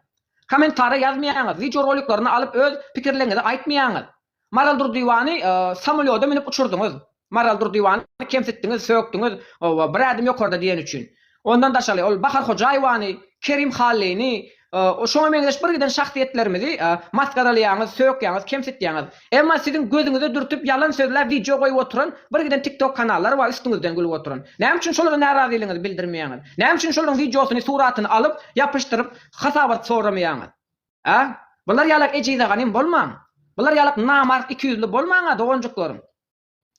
Kommentariýa ýazmaýaňyz, wideoroliklerini alyp öz pikirleriňizi aýtmaýaňyz. Maral Durdywany samolýoda münüp uçurdyňyz. Maral Durdywany kemsitdiňiz, sökdiňiz, oba, bir ädim ýokarda diýen üçin. Ondan daşary, ol Bahar Hojaýewany, Kerim Hallyny, şoňa meňzeş birgiden şahsyýetlerimizi masgaralaýaňyz, sökýäňiz, kemsitýäňiz. Emma siziň gözüňize dürtüp ýalan sözläp wideo goýup oturan birgiden TikTok kanallar bar üstüňizden gülüp oturan. Näme üçin şolara närazylygyňyzy bildirmeýäňiz? Näme üçin şolaryň wideosyny, suratyny alyp, ýapyşdyryp, hasabat soramaýaňyz? A? Bular ýalak ejize ganym bolmaň! Bular ýalak namart ikiýüzli bolmaň-a, doganjyklarym!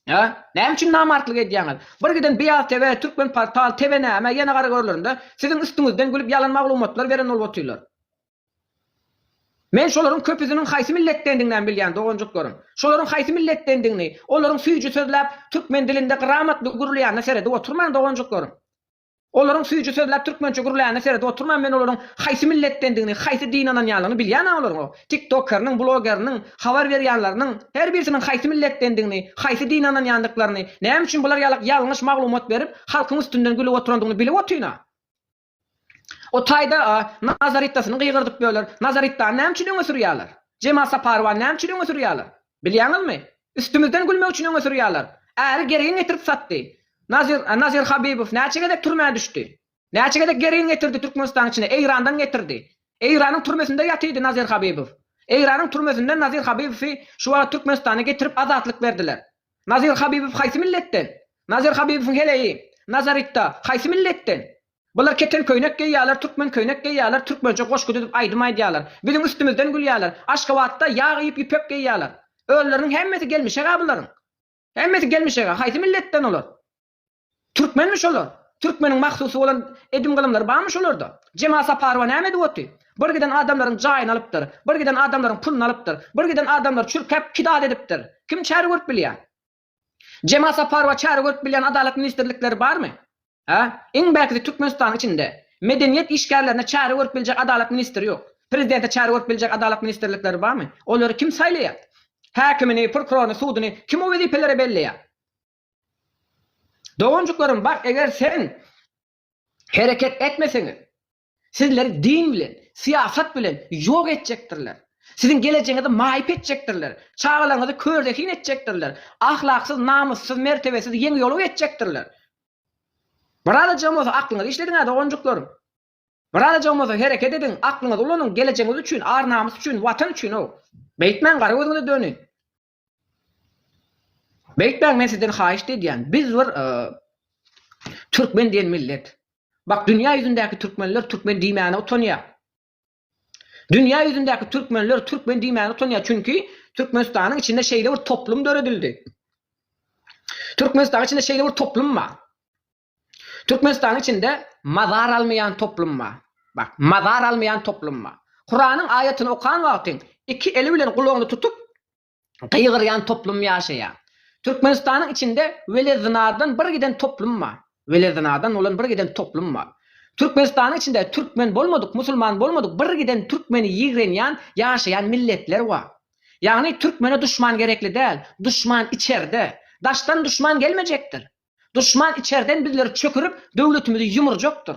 A? Näme üçin namartlyk edýäňiz? Bir giden Beýaz TV, Türkmenportal, TVNäme, ýene gara görlerinde siziň üstüňizden gülüp ýalan maglumatlar beren bolup otyrlar. Men şolaryň köpüsiniň haýsy milletdendiginem bilýän, doganjyklarym! Şolaryň haýsy milletdendigini, olaryň süýji sözläp, türkmen dilinde gramatly gürleýänine seredip oturmaň, doganjyklarym! Olaryň süýji sözläp türkmençe gürlänine seredip oturman men olaryň haýsy milletdendigini, haýsy dine ynanýanlygyny bilýän a olaryň o tik tokeriniň, blogeriniň, habar berýänleriniň her birisiniň haýsy milletdendigini, haýsy dine ynanýandyklaryny, näme üçin bular ýalak ýalňyş maglumat berip halkyň üstünden gülüp oturandygyny bilip otyn a. O taýda a Nazaritdasyny gygyrdyp böler, Nazarittany näme üçin öňe sürýäler? Jemal Saparowany näme üçin öňe sürýäler? Bilýäňizmi? Üstümizden gülmek üçin öňe sürýärler. Äri gergin getirip satdy. Nazir, Nazir Habibow näçe gezek türmä düşdi? Näçe gezek gergin getirdi Türkmenistanyň içine? Eýrandan getirdi. Eýranyň türmesinde ýatydy Nazir Habibow. Eýranyň türmesinden Nazir Habibowy şu wagt Türkmenistana getirip azatlyk berdiler. Nazir Habibow haýsy milletden? Nazir Habibowyň heleýi Nazaritda haýsy milletden? Bular keten köýnek geýýärler, türkmen köýnek geýýärler, türkmençe goşgy düzüp aýdym aýdýarlar. Biziň üstümizden gülýärler. Aşgabatda ýag iýip ýüpek geýýärler. Özleriniň hemmesi gelmişeg-ä bularyň. Hemmesi gelmişeg-ä. Haýsy milletden olar? Türkmenmi şolar? Türkmeniň mahsusy bolan edim-gylymlary barmy şolarda? Jemal Saparowa näme edip oty? Bir giden adamlaryň jaýyny alypdyr. Bir giden adamlaryň puluny alypdyr. Bir giden adamlary çürkäp, kidal edipdir. Kim çäre görüp bilýär? Jemal Saparowa çäre görüp bilýän adalat ministrlikleri barmy? Hä? Iň bärkisi Türkmenistanyň içinde. Medeniýet işgärlerine çäre görüp biljek adalat ministri ýok. Prezidente çäre görüp biljek adalat ministrlikleri barmy? Olary kim saýlaýar? Häkimini, prokuroryny, suduny kim o wezipelere belleýär? Doganjyklarym bar eger sen hereket etmeseňiz. Sizleri din bilen, syýasat bilen ýok etjekdirler. Siziň gelejegiňizi maýyp etjekdirler. Çagalaryňyzy körzehin etjekdirler. Ahlaksyz, namyssyz, mertebesiz, ýeň ýoluw etjekdirler. Birazajygam bolsa aklyňyzy işlediň-ä, doganjyklarym. Birazajygam bolsa hereket ediň, aklyňyzy ulanyň, gelejegiňiz üçin, ar-namys üçin, Watan üçin-ow. Beýtmäň, gara gözüňize döni. Beýik beg men sizden haýyşt edýän, biz bir Türkmen diýen millet. Bak dünýä ýüzündäki Türkmenler Türkmen diýmäne utanýa. Dünýä ýüzündäki Türkmenler Türkmen diýmäne utanýa çünki Türkmenistanyň içinde şeýle bir toplum döredildi. Türkmenistanyň içinde şeýle bir toplum bar. Türkmenistanyň içinde mazar almaýan toplum bar. Bak, mazar almaýan toplum bar. Kuranyň aýatyny okan wagty iki eli bilen gulagyny tutup gygyrýan toplum ýaşaýar. Türkmenistanyň içinde wele zynadan bir giden toplum bar. Wele zynadan bolan bir giden toplum bar. Türkmenistanyň içinde türkmen bolmadyk, musulman bolmadyk bir giden türkmeni ýigrenýän ýaşaýan milletler bar. Ýagny türkmene duşman gerekli däl, duşman içerde. Daşdan duşman gelmejekdir. Duşman içerden bizleri çökürip, döwletimizi ýumurjakdyr.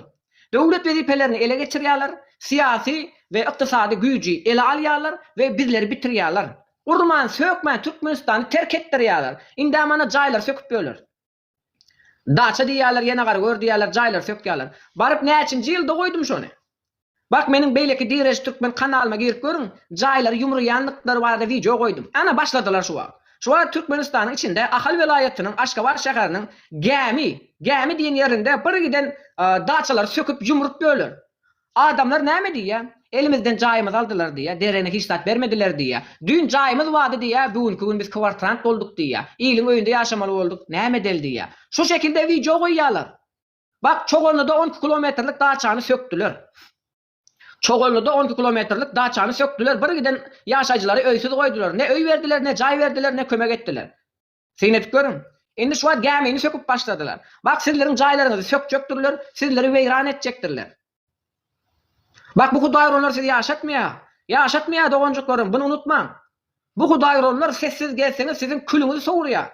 Döwlet wezipelerini ele geçirýärler, syýasy we ykdysady güýji ele alýarlar we bizleri bitirýärler. Urman, sökmän Türkmenistany terk etdirýärler. Indä mana jaýlary söküp ýörler. Daça diýýärler, ýene gara gör diýýärler, jaýlary sökýärler. Baryp näçinji ýylda goýdum şony. Bak meniň beýleki Direş Türkmen kanalyma girip görüň, jaýlary ýumrulýandyklary barada wideo goýdum. Ana başladylar şu wagt. Şu wagt Türkmenistanyň içinde Ahal welaýatynyň Aşgabat şäheriniň Gämi, Gämi diýen ýerinde bir giden daçalary söküp ýumrup ýörler. Adamlar näme diýýä? Elimizden jaýymyzy aldylar diýýä, derene hiç zat bermediler diýýä. Düýn jaýymyz bardy diýýä, bugünki gün biz kwartrant bolduk diýýä. Iliň öýünde ýaşamaly bolduk. Näme edeli diýýä. Şu şekilde wideo goýýalar. Bak, Çoganlyda on iki kilometrlik daçany sökdüler. Çoganlyda on iki kilometrlik daçany sökdüler, bir giden ýaşaýjylary öýsüz goýdular. Ne öý berdiler, ne jaý berdiler, ne kömek etdiler. Syn edip görüň. Indi şu wagt gämini söküp başladylar. Bak, sizleriň jaýlaryňyzy sökjekdirler, sizleri weýran etjekdirler. Bak bu hudaýyronlar sizi ýaşatmaýar. Ýaşatmaýar doganjyklarym, buny unutmaň. Bu hudaýyronlar sessiz gezseňiz siziň külüňizi sowurýar.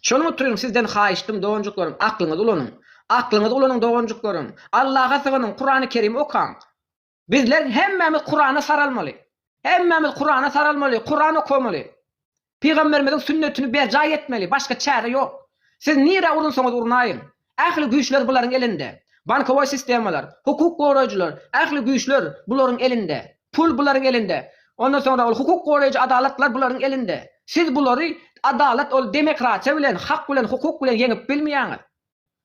Şonuň utrun sizden haýyştym doganjyklarym aklyňyzy ulanyň. Aklyňyzy ulanyň doganjyklarym. Allaha sygynyň, Kurany Kerimi okaň. Bizler hemmämiz Kurana saralmaly. Hemmämiz Kurana saralmaly, Kuran okamaly. Pygamberimiziň sünnetini berjaý etmeli, başga çäre ýok. Siz nirä urunsaňyz urnaýyň, ähli güýçler bularyň elinde. Bankowoý sistemalar, hukuk goraýjylar, ähli güýçler bularyň elinde. Pul bularyň elinde. Ondan soňra ol hukuk goraýjy adalatlar bularyň elinde. Siz bulary adalat ol demekratiýa bilen, hak bilen, hukuk bilen ýeňip bilmeýäňiz.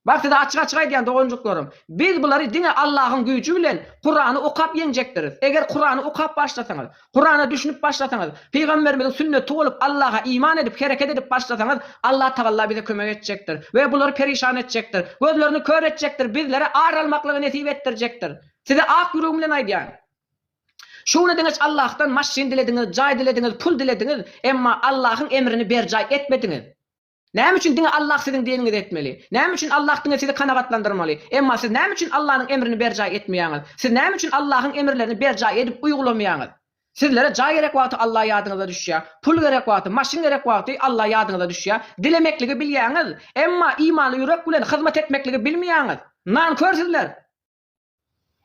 Bak size açyk açyk aýdýan doganjyklarym, biz bulary diňe Allahyň güýji bilen Kurany okap ýeňjekdiris. Eger Kurany okap başlasaňyz, Kurana düşünip başlasaňyz, Pygamberimiziň sünneti bolup Allaha iman edip hereket edip başlasaňyz Allah tagalla bize kömek etjekdir we bulary perişan etjekdir, gözlerini kör etjekdir, bizlere ar almaklygy nesip etdirjekdir. Size ak ýüregim bilen aýdýan. Şu güne deňeç Allahdan maşyn dilediňiz, jaý dilediňiz, pul dilediňiz, emma Allahyň emrini berjaý etmediňiz. Näme üçin diňe Allah siziň diniňizi etmeli? Näme üçin Allah diňe sizi kanagatlandyrmaly? Emma siz näme üçin Allanyň emrini berjaý etmeýäňiz? Siz näme üçin Allahyň emirlerini berjaý edip uýgulamaýaňyz? Sizlere jaý gerek wagty Allah ýadyňyza düşýär. Pul gerek wagty, maşyn gerek wagty Allah ýadyňyza düşýär. Dilemekligi bilýäňiz, emma imanly ýürek bilen hyzmat etmekligi bilmeýäňiz. Nankör sizler!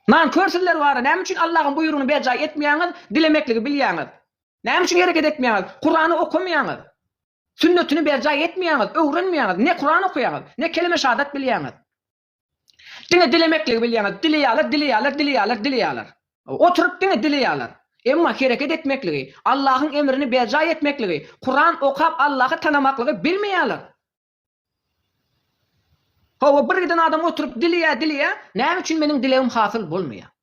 Nankör sizler bara näme üçin Allahyň buýrugyny berjaý etmeýäňiz dilemekligi bilýäňiz näme üçin hereket etmeýäňiz kurany okamaýaňyz sünnetini berjaý etmeýäňiz öwrenmeýäňiz ne kuran okaýaňyz ne keleme şadat bilýäňiz diňe dilemekligi bilýäňiz dileýäler dileýäler dileýäler dileýäler oturyp diňe dileýäler emma hereket etmekligi Allahyň emrini berjaý etmekligi kuran okap Allahy tanamaklygy bilmeýäler Hawa, bir giden adam oturyp dileýär, dileýär, näme üçin meniň dilegim hasyl bolmaýar?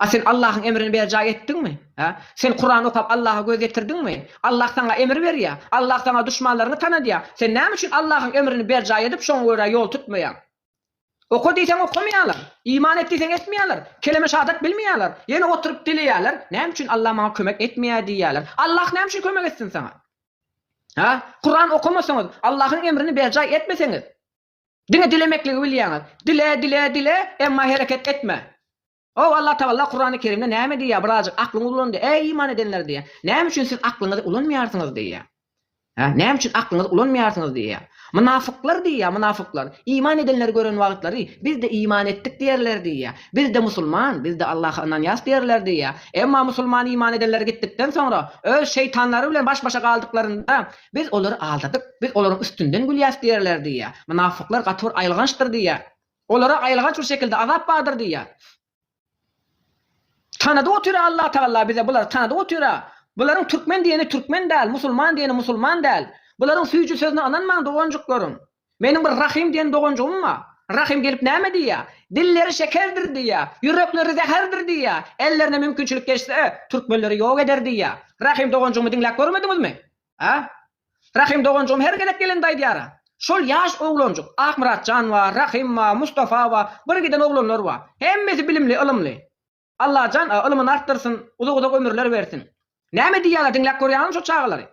A sen Allahyň emrini berjaý etdiňmi? Hä? Sen Kuran okap Allaha göz ýetirdiňmi? Allah saňa emir berýär. Allah saňa duşmanlaryňy tanadýar. Sen näme üçin Allahyň emrini berjaý edip, şoňa görä ýol tutmaýaň? Oka diýseň okamaýarlar, iman et diýseň etmeýärler, keleme şahadat bilmeýärler, ýene oturyp dileýärler, näme üçin Allah maňa kömek etmeýär diýýärler. Allah näme üçin kömek etsin saňa? Hä? Kuran okamasaňyz, Allahyň emrini berjaý etmeseňiz, diňe dilemekligi bilýäňiz. Dile, dile, dile, emma hereket etme. Ow, Allatagalla Kurany Kerimde näme diýýär, birazjyk aklyňyzy ulan-da, eý, iman edenler diýýär. Näme üçin siz aklyňyzy ulanmaýarsyňyz diýýär. Hä, näme üçin aklyňyzy ulanmaýarsyňyz diýýär. Mynafyklar diýýär, mynafyklar, iman edenleri gören wagtlary, biz-de iman etdik diýerler diýýär. Biz-de musulman, biz-de Allaha ynanýas diýerler diýýär. Emma musulman iman edenleri gitdikden soňra, öz şeýtanlary bilen baş-başa galdyklarynda, biz olary aldadyk, biz olaryň üstünden gülýäs diýerler diýýär. Mynafyklar gaty bir aýylgançdyr diýýär. Olara aýylganç bir şekilde azap bardyr diýýär. Tanadyp otyr-a Allatagalla bize bulary tanadyp otyr-a. Bularyň türkmen diýeni türkmen däl, musulman diýeni musulman däl. Bularyň süýji sözüne ynanmaň doganjyklaryň. Meniň bir Rahym diýen doganjygym bar. Rahym gelip näme diýýä? Dilleri şekerdir diýýä, ýürekleri zäherdir diýýä, ellerine mümkinçilik geçse, türkmenleri ýok eder diýýä. Rahym doganjygymy diňläp görmediňizmi? A? Rahym doganjygym her gezek gelende aýdýar-a. Şol ýaş oglanjyk, Akmyratjan bar, Rahym bar, Mustafa bar, bir giden oglanlar bar. Hemmesi bilimli, ylymly. Allajan a, ylymyny artdyrsyn, uzak-uzak ömürler bersin. Näme diýýärler, diňläp görýäňmi şo çagalary?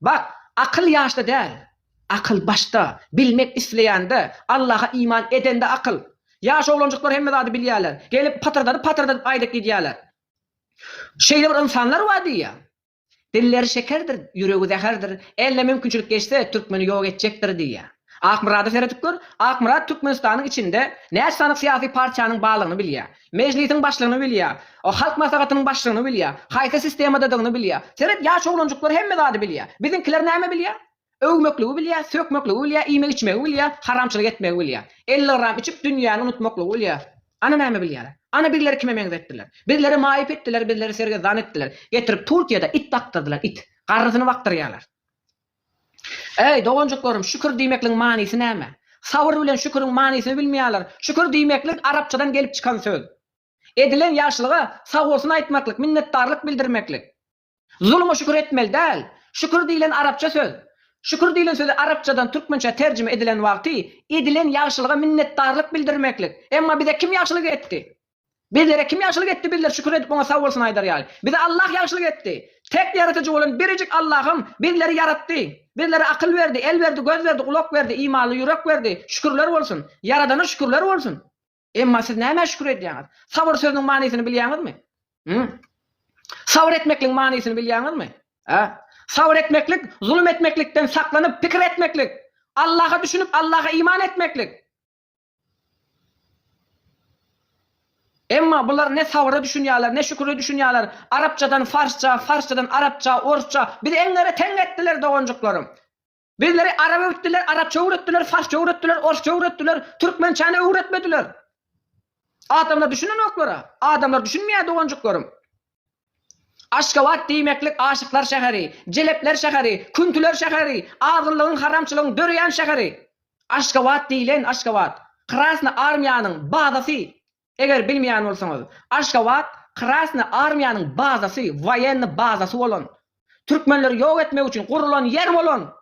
Bak, akyl ýaşda däl. Akyl başda, bilmek isleýände, Allaha iman edende akyl. Ýaş oglanjyklar hemme zady bilýärler. Gelip, patyrdadyp-patyrdadyp aýdyp gidýärler. Şeýle bir ynsanlar bar diýýär. Dilleri şekerdir, ýüregi zäherdir, eline mümkinçilik geçse, türkmeni ýok etjekdir diýýär. Akmyrada seredip gör, Akmyrat Türkmenistanyň içinde näçe sanyk syýasy partiýanyň barlygyny bilýär, Mejlisiň başlygyny bilýär, Halk Maslahatynyň başlygyny bilýär, haýsy sistemadadygyny bilýär. Seret, ýaş oglanjyklar hemme zady bilýär. Biziňkiler näme bilýär? Öwmekligi bilýär, sökmekligi bilýär, iýmek-içmegi bilýär, haramçylyk etmegi bilýär. Elli gram içip, dünýäni unutmaklygy bilýär. Ana näme bilýär? Ana bizleri kime meňzetdiler? Bizleri maýyp etdiler, bizleri sergezdan etdiler. Getirip Türkiýede it bakdyrdylar, it. Garrysyny bakdyrýarlar. Eý, doganjyklarym, şükür diýmekligiň manysy näme? Sabyr bilen şüküriň manysyny bilmeýärler. Şükür diýmeklik arapçadan gelip çykan söz. Edilen ýagşylyga sagbolsun aýtmaklyk, minnetdarlyk bildirmeklik. Zuluma şükür etmeli däl. Şükür diýlen arapça söz. Şükür diýlen sözi arapçadan türkmençä terjime edilen wagty edilen ýagşylyga minnetdarlyk bildirmeklik. Emma bize kim ýagşylyk etdi? Bizlere kim ýagşylyk etdi bizler şükür edip oňa sagbolsun aýdar ýaly? Bize Allah ýagşylyk etdi. Tek ýaratyjy bolan birejik Allahym bizleri ýaratdy. Bizlere akyl berdi, el berdi, göz berdi, gulak berdi, imanly ýürek berdi. Şükürler bolsun. Ýaradana şükürler bolsun. Emma siz nämä şükür edýäňiz? Sabyr sözüniň manysyny bilýäňizmi? Hü? Sabyr etmekligiň manysyny bilýäňizmi? Hä? Sabyr etmeklik, zulum etmeklikden saklanyp, pikir etmeklik. Allaha düşünip, Allaha iman etmeklik. Emma bular ne sabyra düşünýärler, ne şüküre düşünýärler. Arapçadan farsça, farsçadan arapça, orsça. Bizi eňňere teň etdiler, doganjyklarym. Bizleri arap öwütdiler, arapça öwretdiler, farsça öwretdiler, orsça öwretdiler, türkmençäni öwretmediler. Adamlar düşünenoklara, adamlar düşünmeýär doganjyklarym. Aşgabat diýmeklik aşyklar şäheri, jelepler şäheri, küntüler şäheri, azgynlygyň, haramçylygyň döreýän şäheri. Aşgabat diýlen Aşgabat, Krasny armiýanyň bazasy. Eger bilmeýän bolsaňyz, Aşgabat Krasny armiýanyň bazasy, woýenny bazasy bolan, türkmenleri ýok etmek üçin gurulan ýer bolan.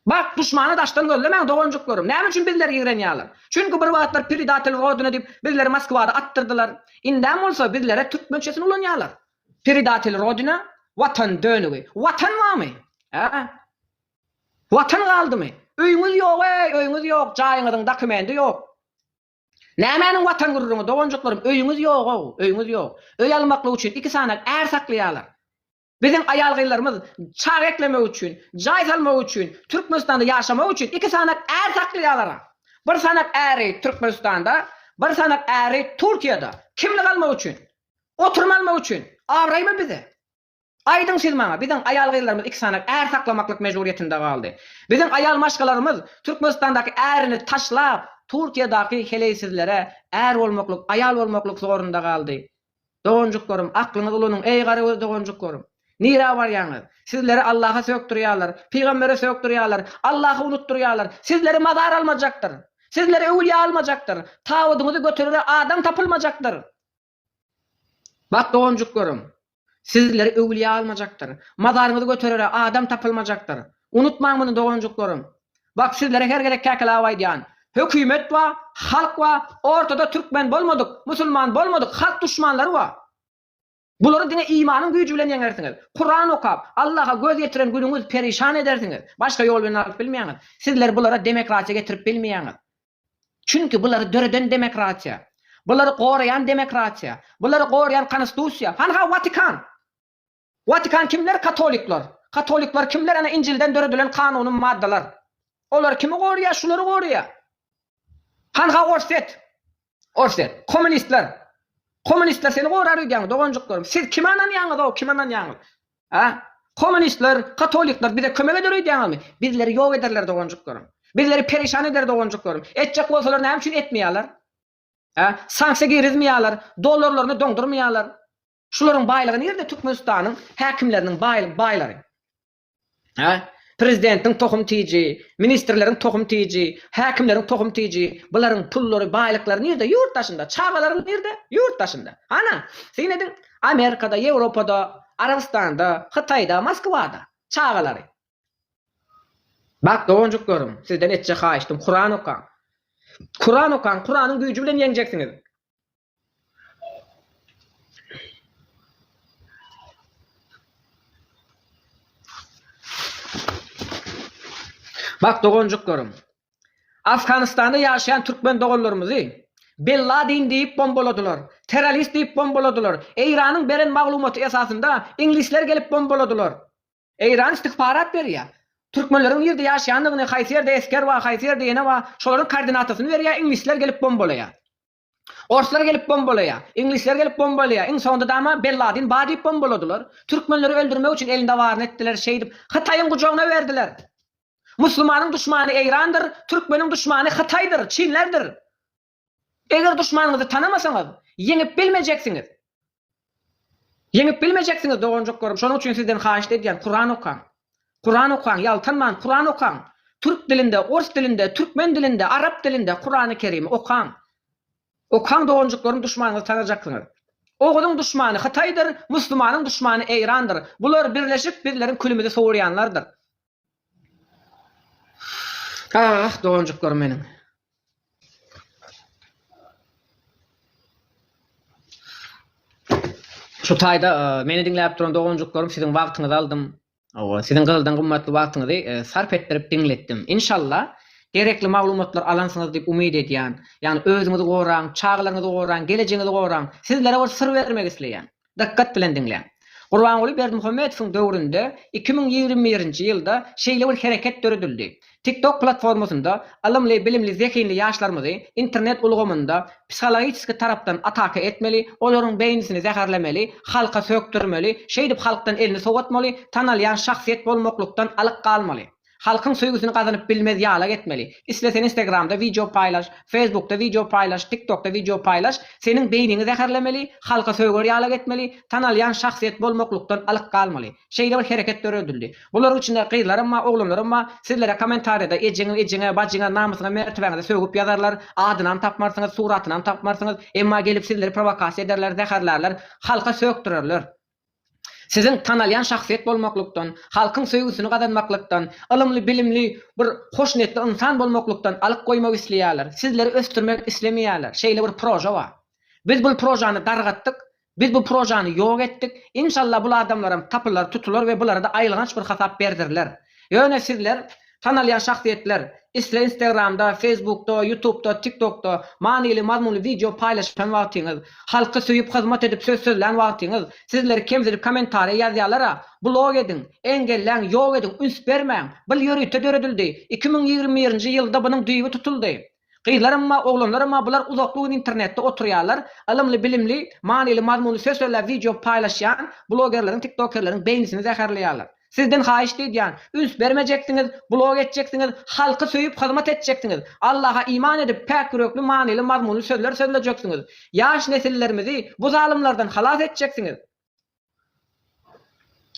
Bak, duşmany daşdan gözlemäň, doganjyklarym. Näme üçin bizleri ýigrenýärler? Çünki bir wagtlar Predatel Rodina diýip, bizleri Moskwada atdyrdylar. Indem bolsa bizlere türkmençesini ulanýarlar. Predatel Rodina, Watan dönügi. Watan barmy? Hä? Watan galdymy? Öýüňiz ýog-eý, öýüňiz ýok, jaýyňyzyň dokumendi ýok. Nämäniň watan gürrüňi, doganjyklarym, öýüňiz ýog-ow, öýüňiz ýok. Öý almaklyk üçin iki sany är saklaýarlar. Biziň aýal-gyzlarymyz çaga eklemek üçin, jaý salmak üçin, Türkmenistanda ýaşamak üçin iki sany är saklaýarlar-a. Bir sany äri Türkmenistanda, bir sany äri Türkiýede. Kimlik almak üçin. Oturym almak üçin. Abraýmy bize? Aýdyň siz maňa, biziň aýal-gyzlarymyz iki sany är saklamaklyk mejburyýetinde galdy. Biziň aýal-maşgalarymyz Türkmenistandaky ärini taşlap, Turkiýadaky heleýsizlere är bolmaklyk, aýal bolmaklyk zorunda galdy. Doganjyklarym, aklyňyzy ulanyň, eý, garagöz doganjyklarym! Nirä barýaňyz? Sizleri Allaha sökdürýärler, pygambere sökdürýärler, Allahy unutdyrýarlar. Sizleri mazar almajakdyr. Sizleri öwülýä almajakdyr. Tabydyňyzy göterere adam tapylmajakdyr. Bak doganjyklarym, sizleri öwlüýä almajakdyr. Mazaryňyzy göterere adam tapylmajakdyr. Unutmaň muny doganjyklarym. Bak sizlere her gezek käkelap aýdýan, hökümet ba, halk ba, ortada türkmen bolmadyk, musulman bolmadyk halk duşmanlary ba. Bulary diňe imanyň güýji bilen ýeňersiňiz. Kuran okap, Allaha göz ýetiren günüňiz perişan edersiňiz. Başga ýol bilen alyp bilmeýäňiz. Sizler bulara demokratiýa getirip bilmeýäňiz. Çünki bulary döreden demokratiýa, bulary goraýan demokratiýa, bulary goraýan konostusiýa, han-ha Watikan! Watikan kimler? Katolikler! Katolikler kimler? Ana Injilden döredilen kanuny maddalar. Olar kimi goraýar? Şulary goraýar! Han-ha Orsýet! Orsýet! Kommunistler! Kommunistler seni gorar öýdýäňmi, doganjyklarym? Siz kime ynanýaňyz-ow, kime ynanýaňyz? A. Kommunistler, katolikler bize kömek eder öýdýäňizmi? Bizleri ýok ederler doganjyklarym. Bizleri perişan eder doganjyklarym. Etjek bolsalar näme üçin etmeýärler? A. Sanksiýa girizmeýärler, dollarlaryny doňdurmaýarlar. Şularyň baýlygy nirde Türkmenistanyň häkimleriniň baýlary? A. Prezidentiň tohum tiji, ministrleriň tohum tiji, häkimleriň tohum tiji, bularyň pullary, baýlyklary nirde? Ýurt daşynda. Çagalary nirde? Ýurt daşynda. Hana, syn ediň. Amerikada, Ýewropada, Arabystanda, Hytaýda, Moskwada. Çagalary. Bak doganjyklarym, sizden etjek haýyştym Kuran okaň. Kuran okaň, Kuranyň güýji bilen ýeňjeksiňiz. Bak doganjyklarym. Afganistanda ýaşaýan türkmen doganlarymyzy Bin Ladin diýip bombaladylar, terrorist diýip bombaladylar, Eýranyň beren maglumaty esasynda iňlisler gelip bombaladylar. Eýran istihbarat berýär. Türkmenleriň nirde ýaşaýandygyny, haýsy ýerde esger bar, haýsy ýerde ýene bar, şolaryň koordinatasyny berýär, iňlisler gelip bombalaýar. Orslar gelip bombalaýar. Iňlisler gelip bombalaýar. Iň soňunda dama Bin Ladin bar diýip bombaladylar. Türkmenleri öldürmek üçin elinde baryny etdiler. Şeýdip, Hytaýyň gujagyna berdiler. Musulmanyň duşmany Eýrandyr, türkmeniň duşmany Hytaýdyr, çinlerdir. Eger duşmanyňyzy tanamasaňyz, ýeňip bilmejeksiňiz. Ýeňip bilmejeksiňiz doganjyklarim şonuň üçin sizden haýyşt edýän Kuran okaň. Kuran okaň ýaltanman Kuran okaň. Türk dilinde, ors dilinde, türkmen dilinde, arap dilinde Kurany Kerimi okaň. Okaň doganjyklarim duşmanyňyzy tanajaksyňyz. Oguzyň duşmany Hytaýdyr, muslumanyň duşmany Eýrandyr. Bular birleşip bizleriň külümizi sowurýanlardyr. Ah, doganjyklarym meniň! Şu taýda meni diňläp duran doganjyklarym siziň wagtyňyzy aldym. Hawa, siziň gyzyldan gymmatly wagtyňyzy sarp etdirip diňletdim. Inşallah, gerekli maglumatlary alansyňyz diýip umyt edýän. Ýagny özüňizi goraň, çagalaryňyzy goraň, gelejiňizi goraň. Sizlere bir syr bermek isleýän. Dykgat bilen diňläň. Gurbanguly Berdimuhamedowyň döwründe iki müň ýigrimi birinji ýylda şeýle bir hereket döredildi. TikTok platformasynda ylymly, bilimli, zehinli ýaşlarymyzy internet ulgamynda psihologiçeski tarapdan ataka etmeli, olaryň beýnisini zäherlemeli, halka sökdürmeli, şeýdip halkdan elini sowatmaly, tanalýan şahsyýet bolmaklykdan alyk galmaly. Halkyň söýgüsini gazanyp bilmez ýalak etmeli. Isle sen instagramda wideo paýlaş, feýsbukda wideo paýlaş, tiktokda wideo paýlaş, seniň beýniňi zäherlemeli, halka söýger ýalak etmeli, tanalýan şahsyýet bolmaklykdan alyk galmaly. Şeýle bir hereket döredildi. Bularyň içinde gyzlaram bar, oglanlaram bar. Sizlere kommentariýada ejeňiň, ejeňe, bajyňa, namysyňa, mertebäňize sögüp ýazarlar, adynam tapmarsyňyz, suratynam tapmarsyňyz, emma gelip sizleri prowokasiýa ederler, zäherlärler, halka sökdürerler. Siziň tanalýan şahsyýet bolmaklykdan, halkyň söýgüsini gazanmaklykdan, ylymly-bilimli bir hoşniýetli ynsan bolmaklykdan alyp goýmak isleýärler. Sizleri ösdürmek islemeýärler. Şeýle bir proža bar. Biz bul prožany dargatdyk. Biz bu prožany ýok etdik. Inşallah bul adamlaram tapylar, tutular we bulara-da aýylganç bir hasap berdiriler. Ýöne sizler Tanalýan şahsyýetler, isle Instagramda, Facebookda, Ýutubda, TikTokda manyly mazmunly wideo paýlaşan wagtyňyz, halky söýüp hyzmat edip söz sözlän wagtyňyz, sizleri kemsidip kommentariýa ýazýalara, blok ediň, engelläň, ýok ediň, üns bermäň, bil ýörite döredildi, iki müň ýigrimi birinji ýylda bunuň düýbi tutuldy. Gyzlaramma, oglanlaramma bular uzakly gün internetde oturýarlar, ylymly-bilimli, manyly-mazmunly söz-sözläp wideo paýlaşýan blogerleriň, tiktokerleriň beýnisini zäherleýärler. Sizden haýyşt edýän, üns bermejeksiňiz, blog etjeksiňiz, halky söýüp hyzmat etjeksiňiz, Allaha iman edip päk ýürekli manyly-mazmunly sözler sözlejeksiňiz, ýaş nesillerimizi bu zalymlardan halas etjeksiňiz.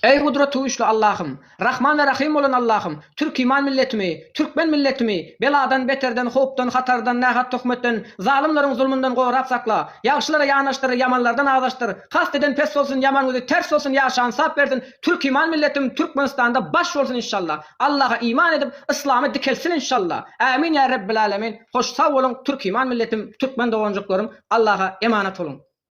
Eý gudrat güýçli Allahym, Rahman we Rahym bolan Allahym, türkiman milletimi, türkmen milletimi beladan, beterden, howpdan, hatardan, nähak töhmetden, zalymlaryň zulmundan gorap sakla, ýagşylara ýanaşdyr, ýamanlardan azaşdyr, kast eden pes bolsun, ýaman gözi ters bolsun, ýaşan sap bersin, türkiman milletim Türkmenistanda baş bolsun inşallah, Allaha iman edip, yslamy dikeltsin inşallah, ämin ýa Rebbilälemin, hoş sag boluň türkiman milletim, türkmen doganjyklarym, Allaha emanat boluň.